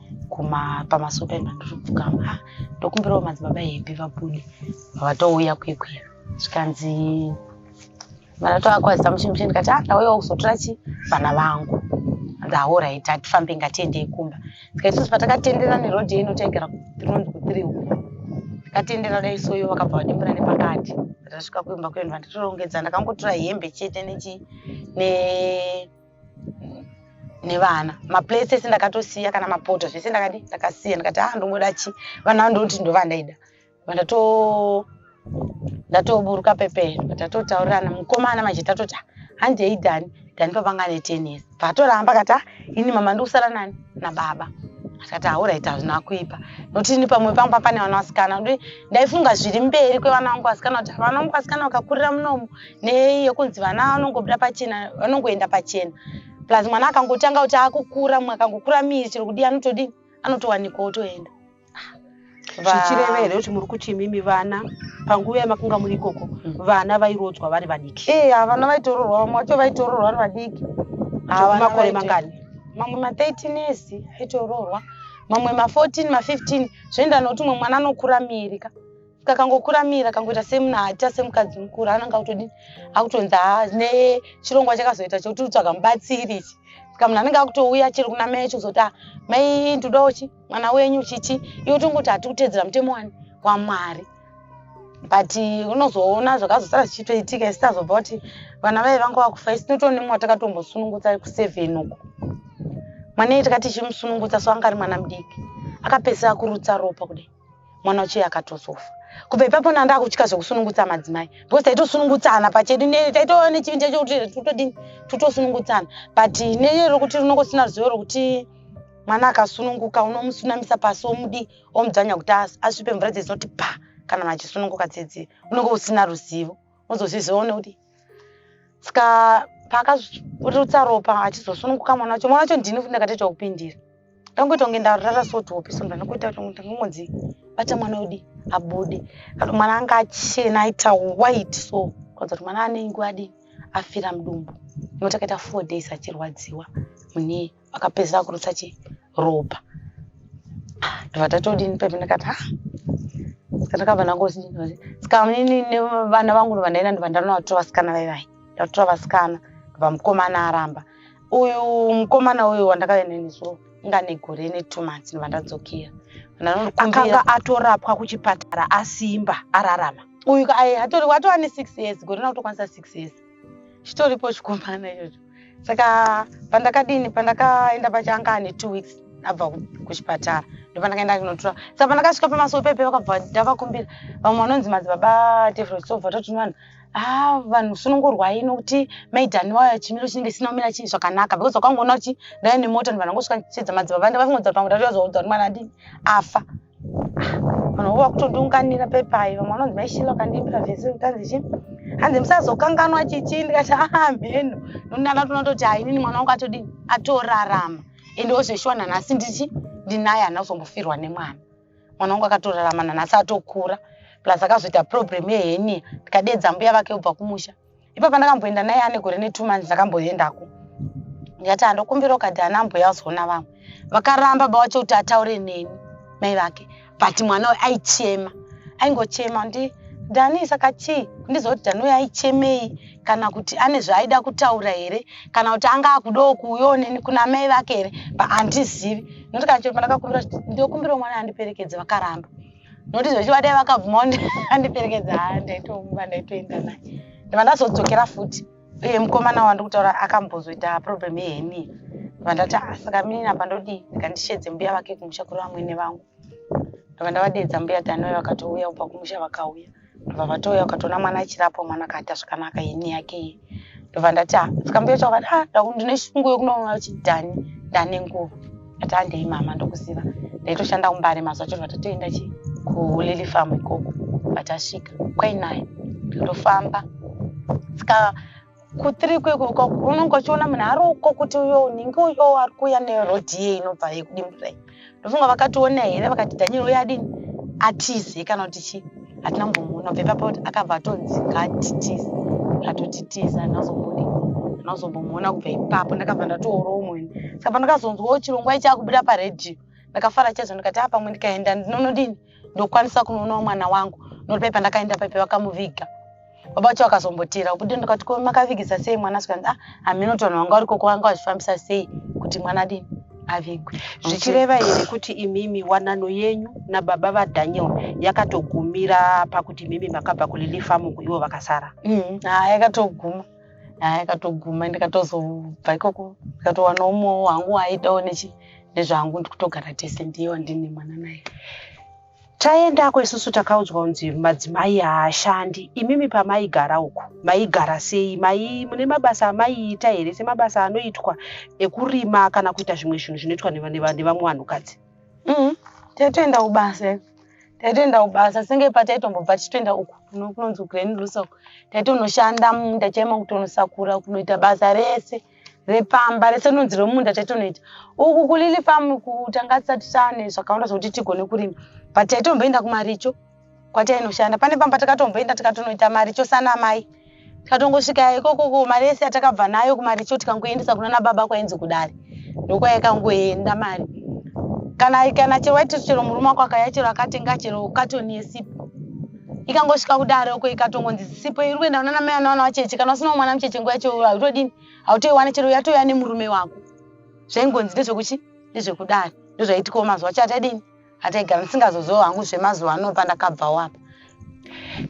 pamasuo paini pandotopfukama ah, ndokumbirawo madzibaba hepi vabude vavatouya kwekwe zvikanzi vandatovakwazisa muchimuchi ndikati ah, ndauyawo kuzotora chi vana vangu ndahoraiti hatifambe ngatiendei kumba ndikaisusu patakatendera nerodhi ino taigara rinonzi kuthriw ndikatendera dai soyo vakabva vadimbura nepakati ndasvika kuimba kuendwa ndatoongedza ndakangotora hembe chete nechi ne, ne nevana maplates ese ndakatosiya kana mapoto zvese ndakadi ndakasiya ndikati aa ah, ndongoda chi vana vandoti ndovandaida vandato ndatoburuka pepee ndatotaurirana mukomana manje tatoti ah, handei dhani dhani pavanga ane ten years paatoramba kati ah, ini mama ndikusara nani nababa akati auraiti hazvina kuipa nokuti ini pamwe pangu papane vana vasikana ndaifunga zviri mberi kwevana vangu vasikana kuti vana vangu vasikana vakakurira munomu nei yokunzi vana vanongobuda pachena vanongoenda pachena plus mwana akangotanga kuti akukura mumwe akangokura miri chero kudii anotodii anotowanikwa otoenda zvichireva here kuti muri kuti imimi vana panguva yamakunga muri ikoko mm. vana vairodzwa vari vadiki e havana vaitororwa vamwe vacho vaitororwa vari vadiki makore mangani mamwe ma13 years aitoroorwa mamwe ma14 ma15 zvoenda nokuti mumwe mwana anokura miri ka kakangokuramira kangoita semuna hata semukadzi mukuru ananga kutodii akutonzi ha ne chirongwa chakazoita chekuti utsvaga mubatsiri ichi ska munhu anenge akutouya chiri kuna mai acho kuzoti mai ndodawo chi mwana wenyu chichi iwe tongoti hati kuteedzera mutemo wani wamwari but unozoona zvakazosara zvichitoitika isitazobva kuti vana vaye vanga vakufa isi tinotone mwa takatombosunungutsa kuseven uko mwana iye takati chimusunungutsa so anga ari mwana mudiki akapedzisira kurutsa ropa kudai mwana uchiye akatozofa kubva ipapo nanda akutya zvekusunungutsa madzimai because taitosunungutsana pachedu taitova nechivindi chacho kuti tutodini tutosunungutsana but neye rokuti rinongo sina ruzivo rokuti mwana akasununguka unomusunamisa pasi omudi omudzvanya kuti asvipe mvura dzezinoti pa kana machisununguka dzedzi unonge usina ruzivo unozozviziva one kuti ska paakazvirutsa ropa achizosununguka mwana wacho mwana wacho ndini futi ndakatoita kupindira ndangoita kunge ndarara sotopi so ndanongoita kuti ndangongonzi bata mwana wedi abude kana mwana anga achena aita white so kwanza kuti mwana anenge wadii afira mudumbu nekuti akaita four days achirwadziwa mune akapedzisa kurutsa chi ropa ndobva tatodini pepe ndikati ha ndakabva nangosi saka inini nevana vangu ndobva ndaenda ndobva ndanovatora vasikana vaivai ndatora vasikana ndobva mukomana aramba uyu mukomana uyu wandakaenda nesu inga negore netu months ndobva ndadzokera akanga atorapwa kuchipatara asimba ararama uyu atorwa atova ne six years gore rina kutokwanisa six years chitoripo chikomana ichocho saka pandakadini pandakaenda pacho anga ane two weeks abva kuchipatara ndopandakaenda kunotura saka pandakasvika pamasowe pepe vakabva ndavakumbira vamwe vanonzi madzibaba tefrosobva toti vanhu ah vanhu sunongorwai nokuti maidhani wayo chimiro chinenge chisina kumira chii zvakanaka because wakangoona kuti ndaive nemota ndovanhu vangosvika chiedza madzibaba ndavafungodza pamwe ndatoyazoudza kuti mwana adini afa vanhu vova kutondiunganira pepai vamwe vanonzi maishila ukandiimbira vhesi ukanzi chi hanzi musazokanganwa chichii ndikati aa mheno noni ndanga tonatoti hainini mwana wangu atodii atorarama ende wozveshuwa nanhasi ndichi ndinaye hana kuzombofirwa nemwana mwana wangu akatorarama nanhasi atokura plus akazoita problem yehenia ndikadeedza mbuya vake ubva kumusha ipa pandakamboenda naye ane gore netwo months ndakamboendako ndikati andokumbira ukati ana ambuya uzoona vamwe vakaramba bawacho kuti ataure neni mai vake but mwana uyu aichema aingochema ndi dani saka chii kundiziva kuti dani uyu aichemei kana kuti ane zvaaida kutaura here kana kuti anga akudawo kuuyawo neni kuna mai vake here but handizivi nokuti kana chero pandakakumbira kuti ndokumbirawo mwana andiperekedze vakaramba nokuti zvechiva dai vakabvuma andiperekedza haa ndaitomuka ndaitoenda naye ndiva ndazodzokera futi uye mukomana wandiri kutaura akambozoita problem yeheni ndiva ndati ah, saka minini apa ndodii ndikandishedze mbuya vake kumusha kuri vamwene vangu ndiva ndavadeedza mbuya dhanoi vakatouya kubva kumusha vakauya ndobva vatouya ukatoona mwana achirapwa mwana akaita zvakanaka ini yake iyi ndobva ndati ah, ndikamboita ukati ah, ndine shungu yekunoona kuti dani ndane nguva ati handei ah, mama ndokuziva ndaitoshanda kumbare mazuva chirwa tatoenda chi kulili famu ikoko vatasvika kwainaye ndofamba sika kutiri kweko unonge uchiona munhu ari uko kuti uyo unenge uyo ari kuuya nerodhi iye inobva yekudimburai ndofunga vakationa here vakati daniel uye adini atize kana kuti chii hatina mbomuona bve papo kuti akabva atonzi ngatitize atotitiza anazomboda anazombomuona kubva ipapo ndakabva ndatoora umwe saka pandakazonzwawo chirongwa ichi akubuda paredhiyo ndakafara chazvo ndikati a pamwe ndikaenda ndinonodini ndokwanisa kunoonawo mwana wangu noti pai pandakaenda paipe vakamuviga baba vacho vakazombotera ubude ndikati ko makavigisa sei mwana sikanzi ah hameno kuti vanhu vanga variko kwavanga vachifambisa sei kuti mwana dini avigwe zvichireva here kuti imimi wanano yenyu nababa vadaniel yakatogumira pakuti imimi makabva kulilifamu ivo vakasara mm, ah, yakatoguma haa ikatoguma ndikatozobva ikoko ndikatowana umwewo hangu waaitawo nechi nezvangu ndikutogara tese ndiye wandine mwana naye taendako isusu takaudzwa kunzi madzimai haashandi imimi pamaigara uko maigara sei mai mune mabasa amaiita here semabasa anoitwa ekurima kana kuita zvimwe zvinhu zvinoitwa nevamwe vanhukadzi Mm, taitoenda kubasa iwe. Taitoenda kubasa senge pataitombobva tichitoenda uku kuno- kunonzi kuGrand Lusa uku. Taitonoshanda mumunda chaimo kutonosakura kunoita basa rese repamba rese rinonzi remumunda taitonoita. Uku kuLily farm uku tanga tisati tane zvakawanda zvokuti tigone kurima. But taitomboenda kumaricho kwatainoshanda pane pamba takatomboenda tikatonoita maricho sana mai tikatongosvika ikokoko mari yese yatakabva nayo kumaricho tikangoendesa kuna nababa kwainzi kudare ndokwaikangoenda mari kana kana chero waiti chero murume wako akaya chero akatenga chero katoni yesipo ikangosvika kudare uko ikatongonzi sipo iri kuenda kunana mai anawana wacheche kana usina mwana mucheche nguva yacho hautodini hautoiwana chero yatouya nemurume wako zvaingonzi ndezvekuchi ndezvekudare ndozvaitikawo mazuva acho atadini Atega ndisingazoziwo hangu zvemazuva ano pandakabvawo apa.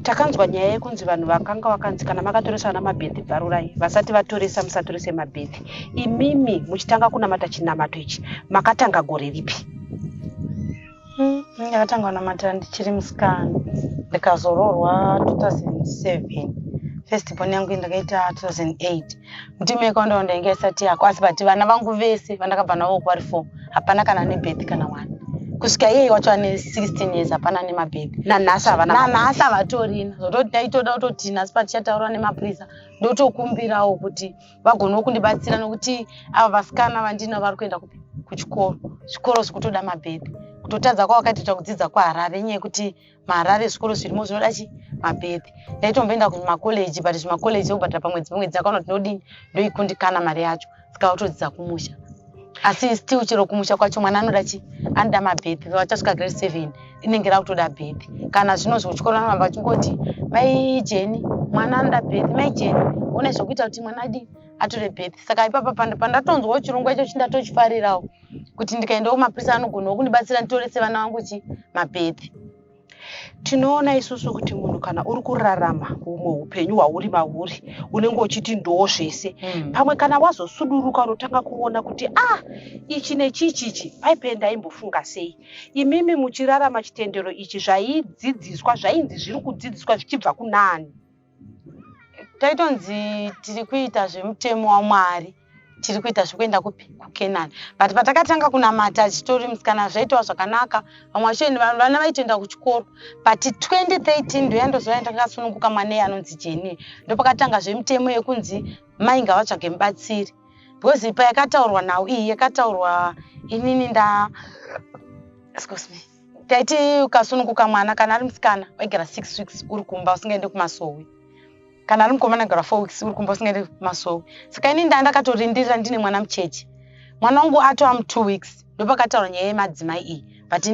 Takanzwa nyaya yekunzi vanhu vakanga wakanzi kana makatoresa vana mabhedhi bvarurai vasati vatoresa musatorise mabhedhi imimi muchitanga kunamata chinamato ichi makatanga gore ripi ndakatanga hmm, kunamata ndichiri musikana ndikazoroorwa 2007 first born yangu ndakaita 2008 mtimeko ndo ndainge isati yako asi but vana vangu vese vandakabva navo kwari four hapana kana ane birth kana one kusvika iyeyi wacho ane 16 years hapana nemabhebhi nanhasi havatorina zvototi taitoda kutoti nhasi patichataurwa nemapurisa ndotokumbirawo kuti vagonewo kundibatsira nokuti ava vasikana vandina vari kuenda kupi kuchikoro zvikoro zvikutoda mabhebhi kutotadza kwavakaitoita kudzidza kwaharare nyaya yekuti maharare zvikoro zvirimo zvinoda chi mabhedhi ndaitomboenda kumakoleji but zvimakoleji obhadhara pamwedzi pamwedzi akaona kuti ndodini ndoikundikana mari yacho saka otodzidza kumusha asi still chero kumusha kwacho mwana anoda chi anoda mabhedhi vachasvika grade seven inenge rakutoda bhedhi kana zvino zvochikoro anoramba achingoti mai jeni mwana anoda bhedhi mai jeni one zvokuita kuti mwana adii atore bhedhi saka ipapa pandatonzwawo chirongwa icho chindatochifarirawo kuti ndikaendawo kumapurisa anogonawo kundibatsira nditorese vana vangu chi mabhedhi tinoona isusu kuti munhu kana uri kurarama humwe upenyu hwauri mahuri unenge uchiti ndoo zvese hmm. pamwe kana wazosuduruka unotanga kuona kuti a ah, ichi nechichi ichi paipee ndaimbofunga sei imimi muchirarama chitendero ichi zvaidzidziswa zvainzi zviri kudzidziswa zvichibva kunani taitonzi tiri kuita zvemutemo wamwari tiri kuita zvekuenda kupi kukenani but patakatanga kunamata achitori musikana zvaitawa zvakanaka vamwe vacho vana vaitoenda kuchikoro but 2013 ndoyandozova ndakasununguka mwana iye anonzi jeni ndopakatanga zvemitemo yekunzi mai ngavatsvage mubatsiri because ipa yakataurwa nhau iyi yakataurwa inini nda excuse me taiti ukasununguka mwana kana ari musikana waigara six weeks uri kumba usingaende kumasowe kana ari mukomana gara four weeks uri kumba usingaende kumasowe saka ini ndaa ndakatorindirira ndine mwana mucheche mwana wangu atova mutwo weeks ndopakataura nyaya yemadzimai iyi but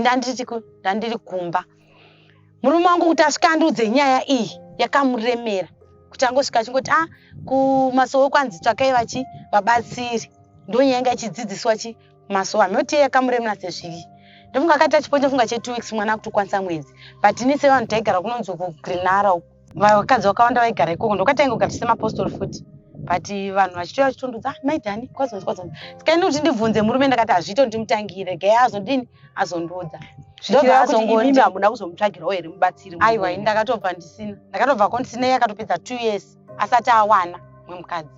ndandiri kumba murume wangu kuti asvika andiudze nyaya iyi yakamuremera kuti angosvika achingoti a ah, kumasowe kwanzi tsvakai vachi vabatsiri ndonyaya inga ichidzidziswa chi mazuva anoteya kamuremna sezviri ndofunga akaita chipo ndofunga che two weeks mwana akutokwanisa mwedzi but ini sevanhu taigara kunonzi uko grenara uko vakadzi vakawanda vaigara ikoko ndokatainge kugara tisemapostori futi but vanhu vachitouya vachitondudza ah, maidhani kwazonzi kwazonzi sikaini kuti ndibvunze murume ndakati hazviito ndimutangire gaya azodini azondiudza zvidoazongondihamuna kuzomutsvagirawo here mubatsiri aiwa ini ndakatobva ndisina ndakatobva ko ndisina iye akatopedza two years asati awana mwe mukadzi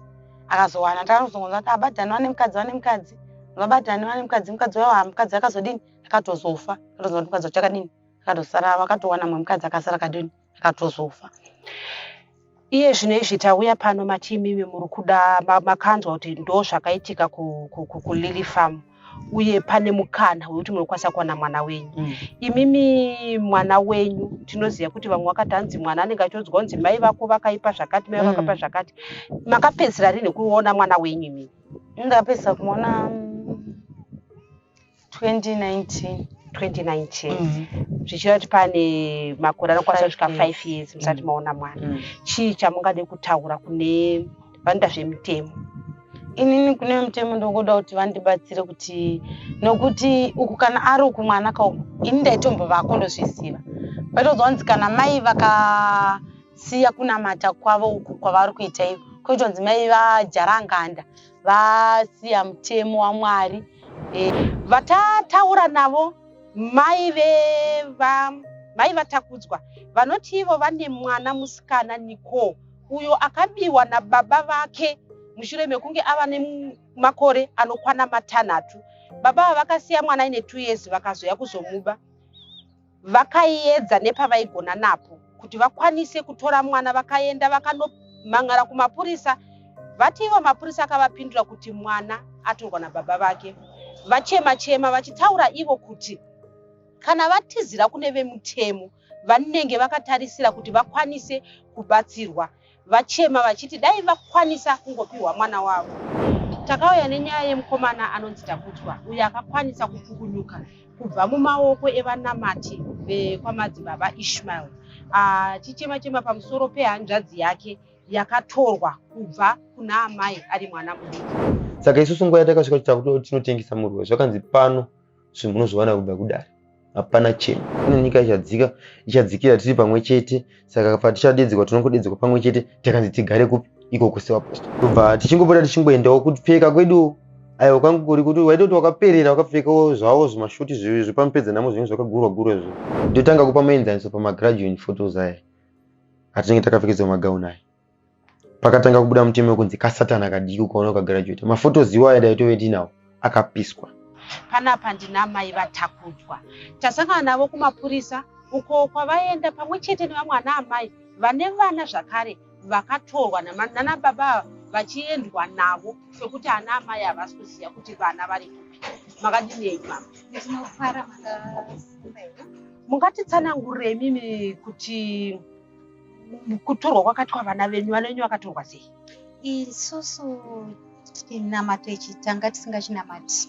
akazowana ndakazongonzwa kuti abadhani wane mukadzi wane mukadzi vabadhani wane mukadzi mukadzi wayo ha mukadzi akazodini akatozofa akatozoa kuti mukadzi wachakadini akatosara akatowana mwe mukadzi akasara kadini akatozofa iye zvino izvi tauya pano mati imimi muri kuda makanzwa kuti ndo zvakaitika kulily farm uye pane mukana wekuti munokwanisa kuwana mwana wenyu mm. imimi mwana wenyu tinoziva kuti vamwe vakati hanzi mwana anenge achionzwa kunzi mai vako vakaipa zvakati mai vakapa mm. zvakati makapedzisira rini kuona mwana wenyu imimi ndakapedzisa kumuona 2019 mm, 2019 mm. zvichireva kuti pane makore anokwanisa kusvika 5 years musati mm. maona mwana mm. chii chamungade kutaura kune vanoita zvemitemo inini kune mutemo ndokuda kuti vandibatsire kuti nokuti uku kana ari uku mwana kauku ini ndaitombo vako ndozviziva paitozonzi kana mai vakasiya kunamata kwavo uku kwavari kuita iyo kuitonzi mai vajaranganda vasiya mutemo wamwari e, vatataura navo mai veva mai vatakudzwa vanoti ivo vane mwana musikana nicole uyo akabiwa nababa vake mushure mekunge ava nemakore anokwana matanhatu baba ava vakasiya mwana aine two years vakazoya kuzomuba vakaiyedza nepavaigona napo kuti vakwanise kutora mwana vakaenda vakanomhan'ara kumapurisa vati ivo mapurisa akavapindura kuti mwana atorwa nababa vake vachema chema vachitaura ivo kuti kana vatizira kune vemutemo vanenge vakatarisira kuti vakwanise kubatsirwa vachema vachiti dai vakwanisa kungopiwa mwana wavo takauya nenyaya yemukomana anonzi takutwa uyo akakwanisa kupukunyuka kubva mumaoko evanamati vekwamadzibaba ishmael achichema ah, chema pamusoro pehanzvadzi yake yakatorwa kubva kuna amai ari mwana mudiki saka isusu nguva yatakasvika kuti takutoti tinotengesa murwe zvakanzi pano zvinhu munozviwana kubva kudare hapana chimwe kune nyika ichadzika ichadzikira tiri pamwe chete saka patichadedzerwa tinongodedzerwa pamwe chete takanzi tigare kupi ikoko sevaposto tobva tichingopota tichingoendawo kupfeka kwedu aiwa kwangu kuri kuti waitoti wakaperera wakapfekawo zvavo zvimashuti zvepamupedza namo zvinenge zvakagurwa gurwa izvo ndotanga kupa muenzaniso pamagraduan photos aya atinenge takapfekedzwa magauni aya pakatanga kubuda mutemo wekunzi kasatana kadiki ukaona ukagraduata mafotos iwayo dai tove tinawo akapiswa panapa ndina mai vatakudzwa tasangana navo kumapurisa uko kwavaenda pamwe chete nevamwe ana amai vane vana zvakare vakatorwa nana baba vachiendwa navo sokuti ana amai havasi kuziva kuti vana vari kupi makadinei mama mungatitsanangurei mimi kuti kutorwa kwakatwa vana venyu vana venyu vakatorwa sei isusu chinamato ichi tanga tisingachinamati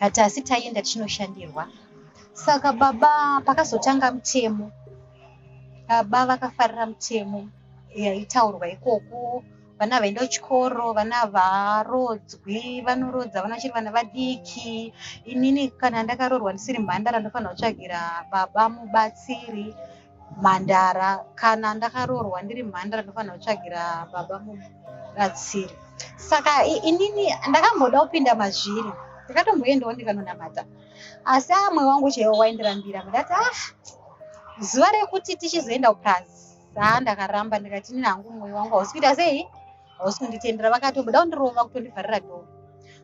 but asi taienda tichinoshandirwa saka baba pakazotanga mutemo baba vakafarira mutemo yaitaurwa ikoko vana vaenda kuchikoro vana varodzwi vanorodza vana vachiri vana vadiki inini kana ndakaroorwa ndisiri mhandara ndofanira kutsvagira baba mubatsiri mhandara kana ndakaroorwa ndiri mhandara ndofanira kutsvagira baba muratsiri saka inini ndakamboda kupinda mazviri ndakatomboendawo ndikanonamata asi amwe wangu chaiwo waindirambira ndati ah zuva rekuti tichizoenda kuprazi saa ndakaramba ndikati inini hangu mwoyo wangu hausi kuita sei hausi kunditendera vakatobuda kundirova kutondivharira dho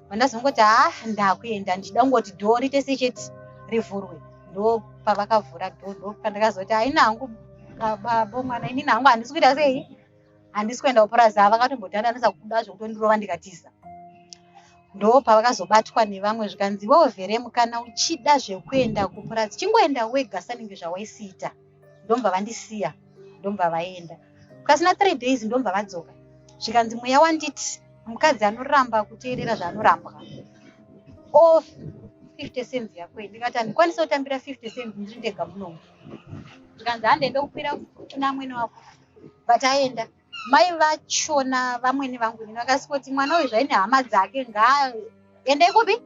vandazongoti ha ndakuenda ndichida kungoti dho riite secheti rivhurwe ndo pavakavhura dho ndo pandakazoti haina hangu babo mwana inini hangu handisi kuita sei handisi kuenda kupurazi ha vakatombodandanisa kuda zvekutondirova ndikatiza ndo pavakazobatwa nevamwe zvikanzi iwewo vhere mukana uchida zvekuenda kupurazi chingoenda wega sanenge zvawaisiita ndomva vandisiya ndomva vaenda pasina three days ndomva vadzoka zvikanzi mweya wanditi mukadzi anoramba kuteerera zvaanorambwa o 50 cents yako ndikati handikwanisa kutambira 50 cents ndiri ndega munomu zvikanzi hande ndokukwira kuna amwene wako but aenda Mai vachona vamwene vangu ini vakasingoti mwana uyu zvaine hama dzake ngaaende kupi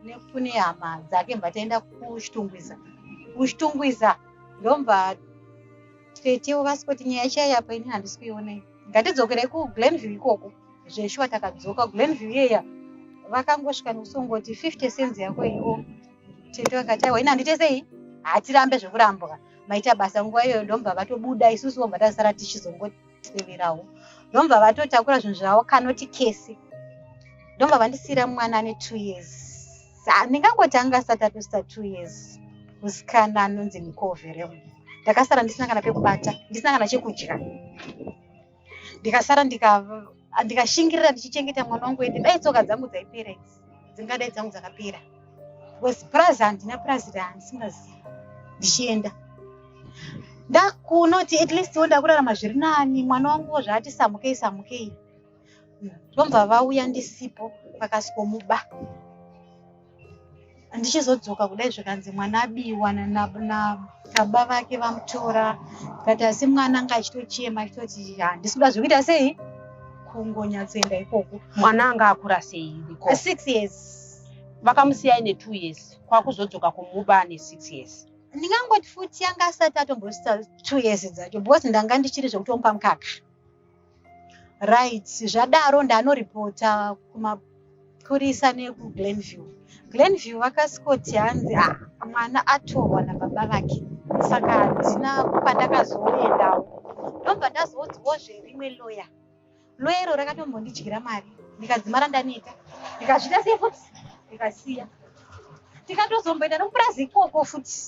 nekune hama dzake mva taenda kuchitungwiza kuchitungwiza ndomva tetewo vasingoti nyaya chaiyo yapo ini handisi kuionei ngatidzokerei kuglenview ikoko zveshuwa takadzoka glenview iyeya vakangosvika nekusongoti 50 cents yako iyo tete vakati aiwa ini handitesei hatirambe zvekurambwa maita basa nguva iyoyo ndomva vatobuda isusu vomva tazosara tichizongoteverawo ndomva vatotakura zvinhu zvavo kanoti kese ndomva vandisiyira mwana ane two years ndingangoti anga asati atosita two years musikana anonzi nikovereo ndakasara ndisina kana pekubata ndisina kana chekudya ndikasara ndikashingirira ndichichengeta mwana wangu ende dai tsoka dzangu dzaipera idzi dzingadai dzangu dzakapera bcause purazi handina purazi raandisingazivi ndichienda ndakunoti at least wo ndakurarama zviri nani mwana wangu wo zvaati samukei samukei vobva vauya ndisipo vakasikomuba ndichizodzoka kudai zvikanzi mwana abiwa nababa vake vamutora kati asi mwana anga achitochema achitoti handisi kuda zvekuita sei kungonyatsoenda ikoko mwana anga akura sei six years vakamusiyai netwo years kwakuzodzoka kumuba ane six years ndingangoti futi yanga asati atombosita two years dzacho because ndanga ndichiri zvekutomba mukaka Right, zvadaro ndanoripota kumapurisa nekuGlenview. Glenview vakasikoti hanzi ah, mwana atorwa nababa vake saka handina pandakazoendawo ndobva ndazoudzwawo zverimwe loya loya iro rakatombondidyira mari ndikadzimara ndaneta ndikazvita sei futi ndikasiya tikatozomboenda nomupurazi ikoko futi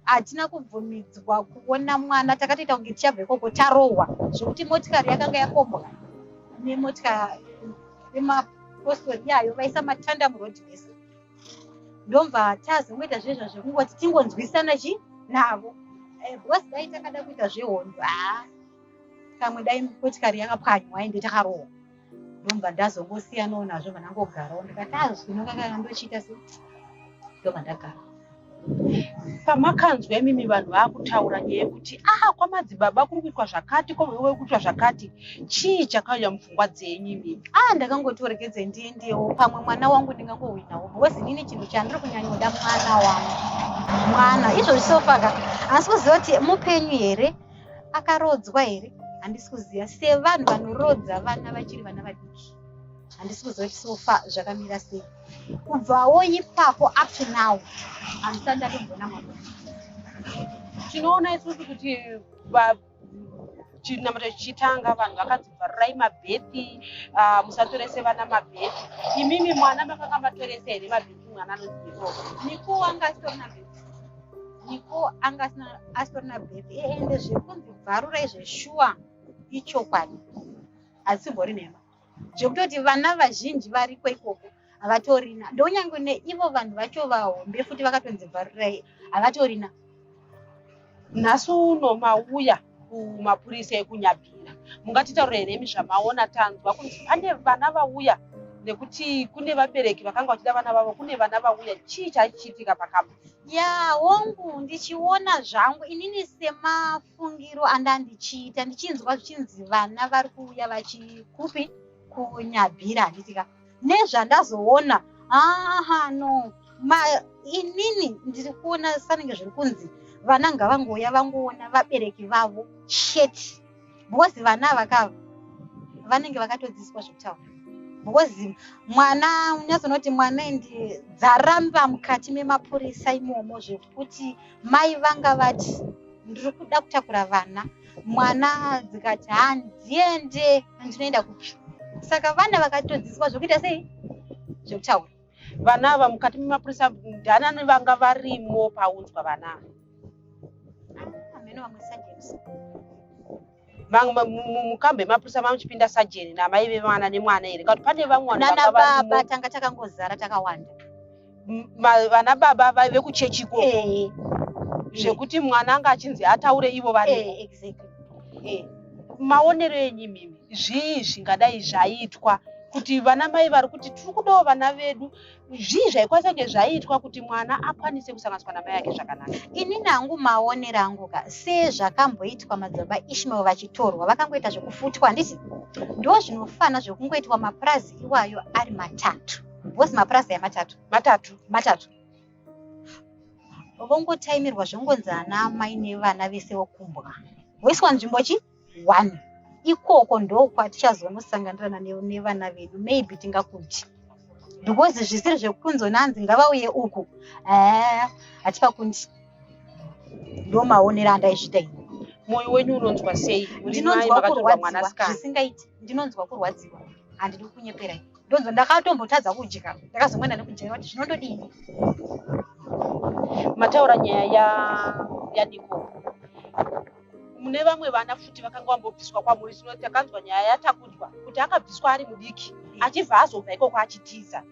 hatina kubvumidzwa kuona mwana takatoita kunge tichabva ikoko tarohwa zvekuti motikari yakanga yakombwa nemotika yemapostori yayo vaisa matanda muroad mese ndobva tazongoita zvezva zvekungoti tingonzwisana chi navo eh, because dai takada kuita zvehondo haa kamwe dai motikari yakapwanywa ende takarohwa ndobva ndazongosiyanawo nazvo vanangogarawo ndikati azvinokakana ndochiita se ndobva ndagara pamakanzwa imimi vanhu vaakutaura nyaya yekuti aha kwamadzibaba kuri kuitwa zvakati kwamaiwe kuitwa zvakati chii chakauya mupfungwa dzenyu imimi ah ndakangoti orekedze ndiendewo pamwe mwana wangu ndingangohwinawo because inini chinhu chandiri kunyanyoda mwana wangu mwana izvozvisofaka asi kuziva kuti mupenyu here akaroodzwa here handisi kuziva sevanhu vanoroodza vana vachiri vana vadiki handisi kuziva kuti sofa zvakamira sei kubvawo ipapo up to now handisati ndatombona mwana tinoona isusu kuti chinamata chichitanga vanhu vakanzi vharirai mabhethi ah, musatorese vana mabhethi imimi mwana makanga matorese here mabhethi mwana anonzi iro mikuwa ngaasitorina bhethi niko anga asitorina bebi ende zvekunzi bvarura izve shuwa ichokwadi hadzibori nhema zvekutoti vana vazhinji variko ikoko havatorina ndonyange neivo vanhu vacho vahombe futi vakatonzi bvarurai havatorina nhasi uno mauya kumapurisa ekunyabira mungatitaurira here imi zvamaona tanzwa kuti pane vana vauya nekuti kune vabereki vakanga vachida vana vavo kune vana vauya chii chaichiitika pakamba Yaa hongu ndichiona zvangu inini semafungiro andandichiita ndichinzwa zvichinzi vana vari kuuya vachikupi kunyabhira handitika nezvandazoona aha no ma inini ndiri kuona sanenge zviri kunzi vana ngavangouya vangoona vabereki vavo sheti because vana vakava vanenge vakatodzidziswa zvekutaura because mwana unyazonoti mwana endi dzaramba mukati memapurisa imomo zvekuti mai vanga vati ndiri kuda kutakura vana mwana dzikati handiende ndinoenda kupi saka vana vakatodzidziswa zvekuita sei zvekutaura vana ava mukati memapurisa ndianani vanga varimo paunzwa vana ava ameno vamwe surgeons mukambo yemapurisa mamuchipinda sajeni namai vevana nemwana here kakuti pane vamwe vananababa tanga takangozara takawanda vana baba vaive kuchechi ko zvekuti mwana anga achinzi ataure ivo vari maonero enyu mimi zvii zvingadai zvaitwa kuti vana mai vari kuti tiri kudawo vana vedu zvii zvaikwanisa kunge zvaiitwa kuti mwana akwanise kusanganiswa namai ake zvakanaka ini nangu maonero angu ka sezvakamboitwa madzibaba ishmael vachitorwa vakangoita zvekufutwa handiti ndo zvinofana zvekungoitwa mapurazi iwayo ari matatu bhosi mapurazi aya matatu matatu matatu vongotaimirwa zvongonzi ana amai nevana vese vokumbwa voiswa nzvimbo chii one ikoko ndokwatichazonosanganirana nevana vedu maybe tingakudyi because zvisiri zvekunzonanzi ngavauye uku eh, hatipa kundi ndomaonera andaizvita ini moyo wenyu unonzwa sei ndinonzwa kurwadziwa zvisingaiti ndinonzwa kurwadziwa handidi kunyeperai ndonzwa ndakatombotadza kudya ndakazomwena nekudya kuti zvinondodii mataura nyaya yadiko ya mune vamwe vana futi vakanga vambobviswa kwamuri zvino takanzwa nyaya yatakudzwa kuti akabviswa ari mudiki achibva azobva ikoko achitiza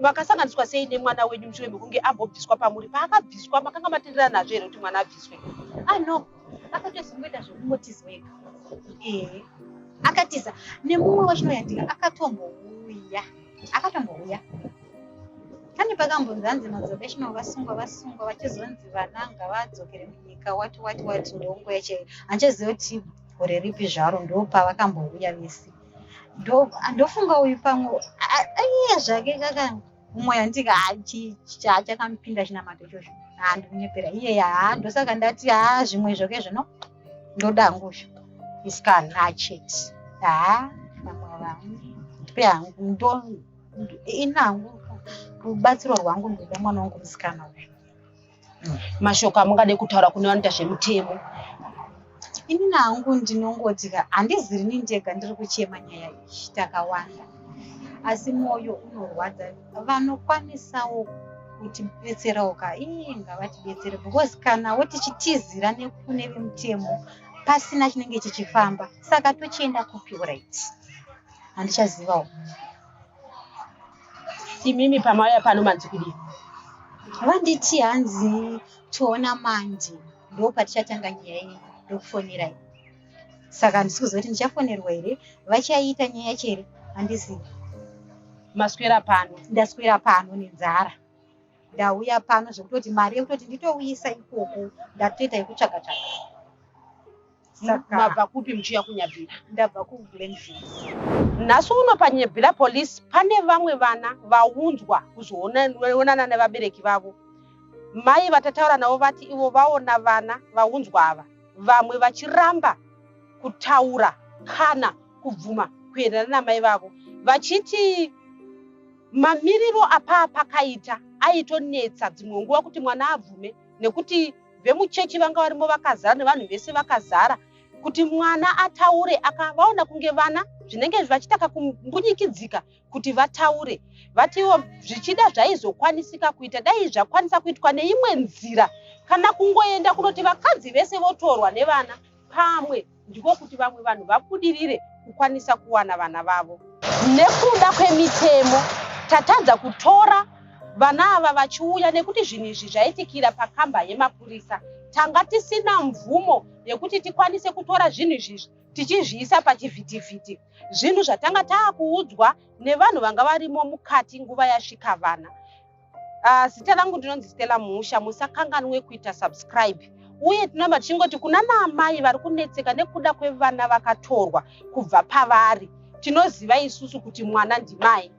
makasanganiswa sei nemwana wenyu mushure mekunge ambobviswa pamuri paakabviswa makanga matenderana nazvo here kuti mwana abviswe ano ah, akatozimboita zvekumotizweka ee akatiza nemumwe wechinoyandika akatombouya akatombouya pane pakambonzi hanzi madzokeshino vasungwa vasungwa vachizonzi vana ngavadzokere munyika wati wati wati ndongo yacho handichaziva kuti gore ripi zvaro ndopavakambouya vese ndofunga uyu pamwe aiye zvake kaka umwe andika chachakamupinda chinamato ichozvo handikunyepera iye haa ndosaka ndati haa zvimwe zvoke zvino ndoda nguzvo isikana achete haa vamwe vangu ndipe hangu ndoo ini hangu rubatsiro rwangu ndoda mwana wangu musikana uyu mashoko amungade kutaura kune vanoita zvemutemo ini nangu ndinongoti ka handizi rini ndega ndiri kuchema nyaya iyi takawanda asi mwoyo unorwadza vanokwanisawo kutibetserawo ka ii ngavatibetsere because kana wo tichitizira nekune vemutemo pasina chinenge chichifamba saka tochienda kupi right handichazivawo imimi pamauya pano manzi kudii vanditi hanzi toona mandi ndo patichatanga nyaya iyi ndokufonerai saka handisi kuziva kuti ndichafonerwa here vachaiita nyaya yacho here handizivi maswera pano ndaswera pano nenzara ndauya pano zvekutoti mari yekutoti nditouyisa ikoko ndatoita yekutsvaga tsvaga Saka mabva kupi muchiya kunyabhira? Ndabva kuglenville. Nhasi uno panyebhira police pane vamwe vana vaunzwa kuzoonana nevabereki vavo. Mai vatataura navo vati ivo vaona vana vaunzwa ava vamwe vachiramba kutaura kana kubvuma kuenderana namai vavo vachiti mamiriro apaa pakaita aitonetsa dzimwe nguva kuti mwana abvume nekuti Vemuchechi vanga varimo vakazara nevanhu vese vakazara kuti mwana ataure akavaona kunge vana zvinenge vachitaka kumbunyikidzika kuti vataure vatiwo zvichida zvaizokwanisika kuita dai zvakwanisa kuitwa neimwe nzira kana kungoenda kunoti vakadzi vese votorwa nevana pamwe ndiko kuti vamwe vanhu vabudirire kukwanisa kuwana vana vavo. Nekuda kwemitemo, tatadza kutora vana ava vachiuya nekuti zvinhu izvi zvaitikira pakamba yemapurisa. Tanga tisina mvumo yekuti tikwanise kutora zvinhu izvizvi tichizviisa pachivhitivhiti zvinhu zvatanga taakuudzwa nevanhu vanga varimo mukati nguva yasvika vana Uh, zita rangu ndinonzi Stella Muhusha, musakanganwe kuita subscribe uye tinoramba tichingoti kuna naamai vari kunetseka nekuda kwevana vakatorwa kubva pavari tinoziva isusu kuti mwana ndimai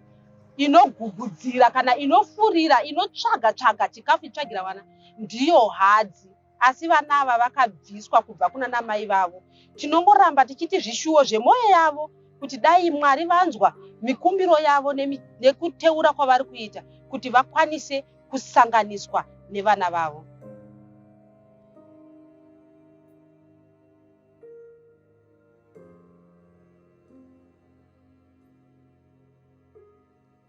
inogugudzira kana inofurira inotsvaga tsvaga chikafu itsvagira vana ndiyo hadzi asi vana ava vakabviswa kubva kuna namai vavo tinongoramba tichiti zvishuwo zvemwoyo yavo kuti dai mwari vanzwa mikumbiro yavo nekuteura kwavari kuita kuti vakwanise kusanganiswa nevana vavo